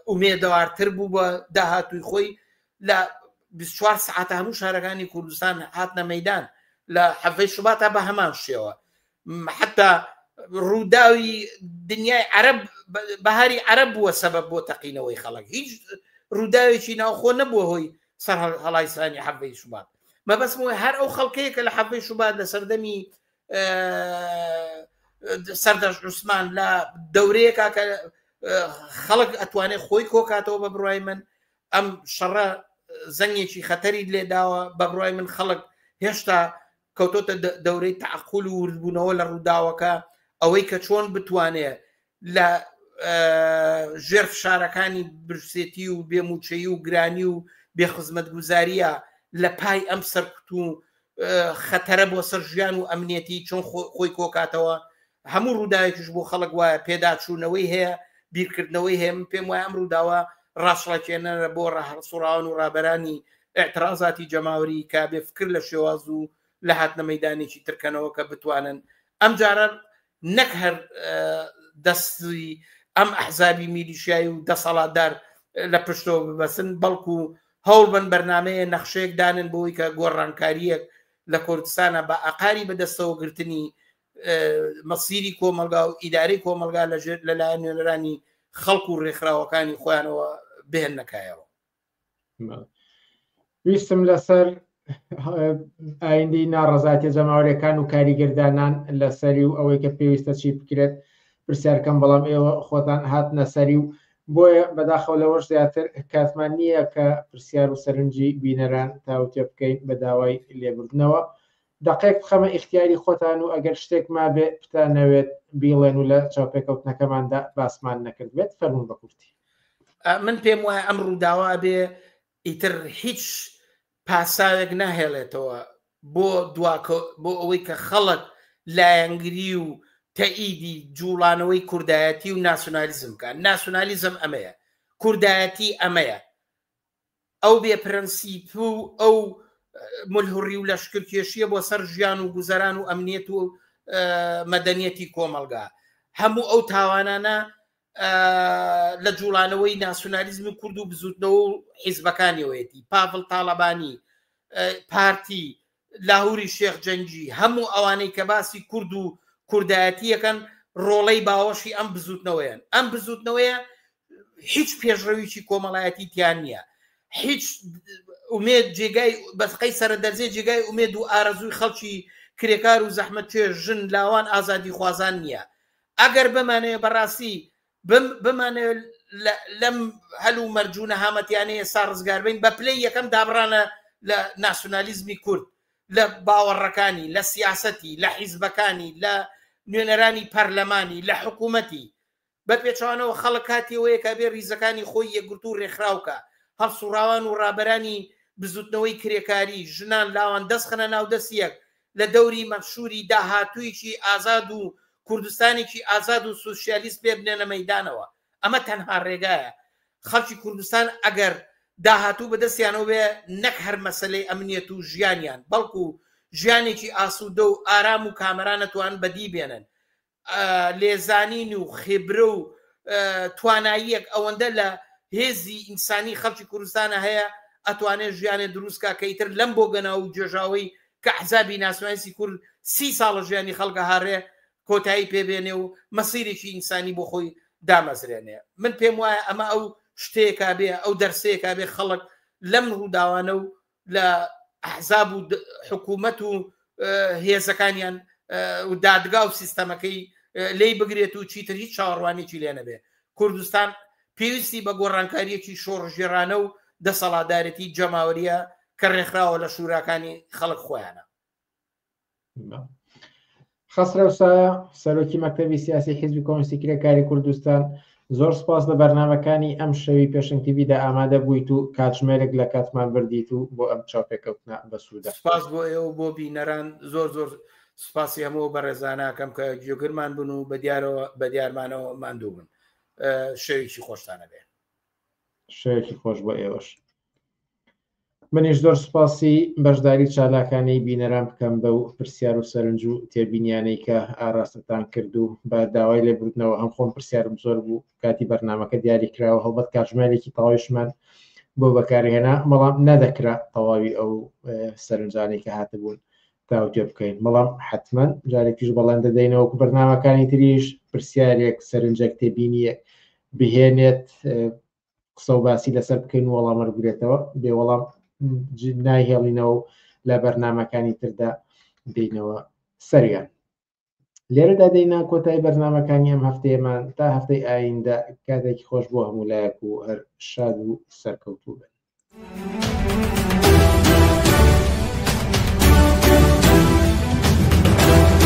ئومێدەوارتر بوو بە داهاتووی خۆی لە بیست و چوار سەعاتە هەموو شارەکانی کوردستان هاتنە مەدان لە حەڤەی شوباتە بە هەمان شێوە حتا ڕووداوی دنیای عرب بەهاری عرب بووە سەبە بۆ تەقینەوەی خەڵک هیچ ڕووداوێکی ناوخۆ نەبووە هۆی سەر هەڵایسانی حەڤەی شوبات مەبەستمەوەی هەر ئەو خەڵکەیە کە لە حەڤەی شوبات لە سەردەمی سەردەش عوسمان لە دەورەیەکە کە خەڵک ئەتوانێت خۆی کۆکاتەوە بە بڕای من ئەم شەڕە زەنگێکی خەتەری لێداوە بەبڕای من خەڵک هێشتا کەوتۆتە دەورەی تعقول و وردبوونەوە لە ڕووداوەکە ئەوەی کە چۆن بتوانێت لە ژێر فشارەکانی برسێتی و بێموچەی و گرانی و بێخزمەت گوزاریە لە پای ئەم سەرکوت و خەتەرە بۆ سەر ژیان و ئەمنیەتی چۆن خۆی کۆکاتەوە هەموو ڕووداوێکیش بۆ خەڵک وایە پێداچوونەوەی هەیە بیرکردنەوەی هەیە پێم وایە ئەم ڕووداوە ڕاستڵەکێنەرە بۆ ڕاهڵسوڕاون و ڕابەرانی ئەترازاتی جەماوری کا بێ فکر لە شێواز و لە هاتنە مەدانێکی ترکەنەوە کە بتوانن ئەم جارە نەک هەر دەستی ئەم ئەحزابی میلیشایی و دەسەڵاتدار لە پشتەوە ببەسن بەڵکو هەوڵ بن بەرنمەیە نەخشەیەک دانن بۆی کە گۆڕانکاریەک لە کوردستانە بە ئاقاری بەدەستەوە گرتنی مەسیری کۆمەلگا و ئیداری کۆمەلگا لەژێر لەلایەن نوێنەرانی خەڵک و ڕێکخراوەکانی خۆیانەوە بهێنەکایەوە ویستم لەسەر ئایندی ناڕزایەتی جەماوەرەکان و کاریگەردانان لەسەری و ئەوەی کە پێویستە چی بکرێت پرسیارکەم بەڵام ئێوە خۆتان هات نەسەری و بۆیە بەداخەوە لەوەش زیاتر کاتمان نییە کە پرسیار و سەرنجی بینەران تاوتێ بکەین بە داوای لێبردنەوە دەقێک بخەمە ئیختیاری خۆتان و ئەگەر شتێک مابێ بتانەوێت بیڵێن و لە چاوپێکەوتنەکەماندا باسمان نەکردبێت فەرموون بە کورتی. من پێم وایە ئەم ڕووداوە ئەبێ ئیتر هیچ پاساوێک نەهێڵێتەوە بۆ دواکە بۆ ئەوەی کە خەڵک لایەنگری و تەئیدی جوڵانەوەی کوردایەتی و ناسیۆنالیزم بکات ناسیۆنالیزم ئەمەیە کوردایەتی ئەمەیە ئەو بێ پرەنسیپ و ئەو ملهوڕی و لەشکرکێشیە بۆ سەر ژیان و گوزەران و ئەمنیەت و مەدەنیەتی کۆمەلگا هەموو ئەو تاوانانە لە جوڵانەوەی ناسیۆنالیزم و کورد و بزوتنەوە و حیزبەکانیەوەیەتی پاڤڵ تاالبانی پارتی لاهوری شێخ جەنگی، هەموو ئەوانەی کە باسی کورد و کوردایەتی ئەکەن ڕۆڵەی باوەشی ئەم بزووتنەوەیەن، ئەم بزووتنەوەیە هیچ پێشڕەویی کۆمەڵایەتی تیا نییە، هیچ ئومێد جێگای بەسقەی سەرە دەرزێ جێگای ئومێد و ئارەزووی خەڵکی کرێکار و زەحمەتکێش، ژن، لاوان، ئازادیخوازان نییە. ئەگەر بمانەوێ بەڕاستی بمانەوێت لەم هەل و مەرج و نەهامەتیانەی ئێستا ڕزگاربین بە پلەی یەکەم دابڕانە لە ناسیۆنالیزمی کورد لە باوەڕەکانی لە سیاسەتی لە حیزبەکانی لە نوێنەرانی پەرلەمانی لە حکوومەتی بە پێچوانەوە خەڵک کاتیەوەیە کە بێ ریزەکانی خۆی یەکگرتو و ڕێکخراوکە هەڵسوڕاوان و ڕابەرانی بزوتنەوەی کرێکاری ژنان لاوان دەستخەنە ناودەستیەک لە دەوری مەنشوری داهاتوویکی ئازاد و کوردستانێکی ئازاد و سوسیالیست پێ بنێنە مەیدانەوە. ئەمە تەنها رێگایە. خەڵکی کوردستان ئەگەر داهاتوو بە دەستیانەوە بێ نەک هەر مەسەلەی ئەمنیەت و ژیانیان بەڵکو ژیانێکی ئاسوودە و ئارام و کامەران ئەتوانن بەدی بێنن. لێزانین و خێبرە و تواناییەک ئەوەندە لە هێزی ئینسانی خەڵکی کوردستانە هەیە ئەتوانێت ژیانێ دروستکە کە ئیتر لەم بۆ گەناو و گێژاوەی کە حزابی ناسناسی کورد سی ساڵە ژیانی خەڵکە هاڕێ کۆتایی پێبێنێ و مەسیرێکی ئینسانی بۆ خۆی دامەزرێنێ من پێم وایە ئەمە ئەو شتێکا بێ ئەو دەرسەیەکا بێ خەڵک لەم ڕووداوانە و لە ئەحزاب و حکوومەت و هێزەکانیان و دادگا و سیستەمەکەی لی بگرێت و چیتر هیچ چاوەڕوانێکی لێ نەبێ کوردستان پێویستی بە گۆڕانکاریەکی شۆڕژێرانە و دەسەڵاتدارێتی جەماوەریە کە ڕێکخراوە لە شوراکانی خەڵک خۆیانە خەسرەو سایە سەرۆکی مەکتەبی سیاسی حیزبی کۆمستی کرێکاری کوردستان زۆر سپاس لە بەرنمەکانی ئەم شەوی پێشنگ تیبیدا ئامادە بوویت و کاتژمێرێک لە کاتمان بردیت و بۆ ئەم چاپێکەوتنە بەسوودە سپاس بۆ ئێوە بۆ بینەران زۆر زۆر سپاسی هەمەوە بەڕێزاناکەم کە گوێگرمان بن و بە دیارەوە بە دیارمانەوە ماندوو بن شەوێکی خۆشتانە بێ شەوێکی خۆش بۆ ئێوەش منیش زۆر سوپاسی بەشداری چالاکانەی بینەران بکەم بەو پرسیار و سەرنج و تێبینیانەی کە ئاراستەتان کرد و بە داوای لێبوردنەوە هەم خۆم پرسیارم زۆر بوو کاتی بەرنمەکە دیاری کراوە هەڵبەت کاتژمێرێکی تەواویشمان بۆ بەکارهێنا بەڵام نەدەکرا تەواوی ئەو سەرنجانی کە هاتبوون تاوتێ بکەین بەڵام حتمما جارێکیش بەڵێن دەدەینەوە بەرنمەکانی تریش پرسیارێک سەرنجەک تێبینیە بهێنێت قسە و باسی لەسەر بکەین و وەڵامە بگرێتەوە بێ وەڵام نایهێڵینەوە و لە بەرنمەکانی تردا دینەوە سەریان لێرەدا دەینا کۆتای بەرنمەکانی ئەم هەفتەیەمان تا هەفتەی ئایندە کاتێکی خۆش بۆ هەموو لایەک و هەر شاد و سەرکەوتوو بن.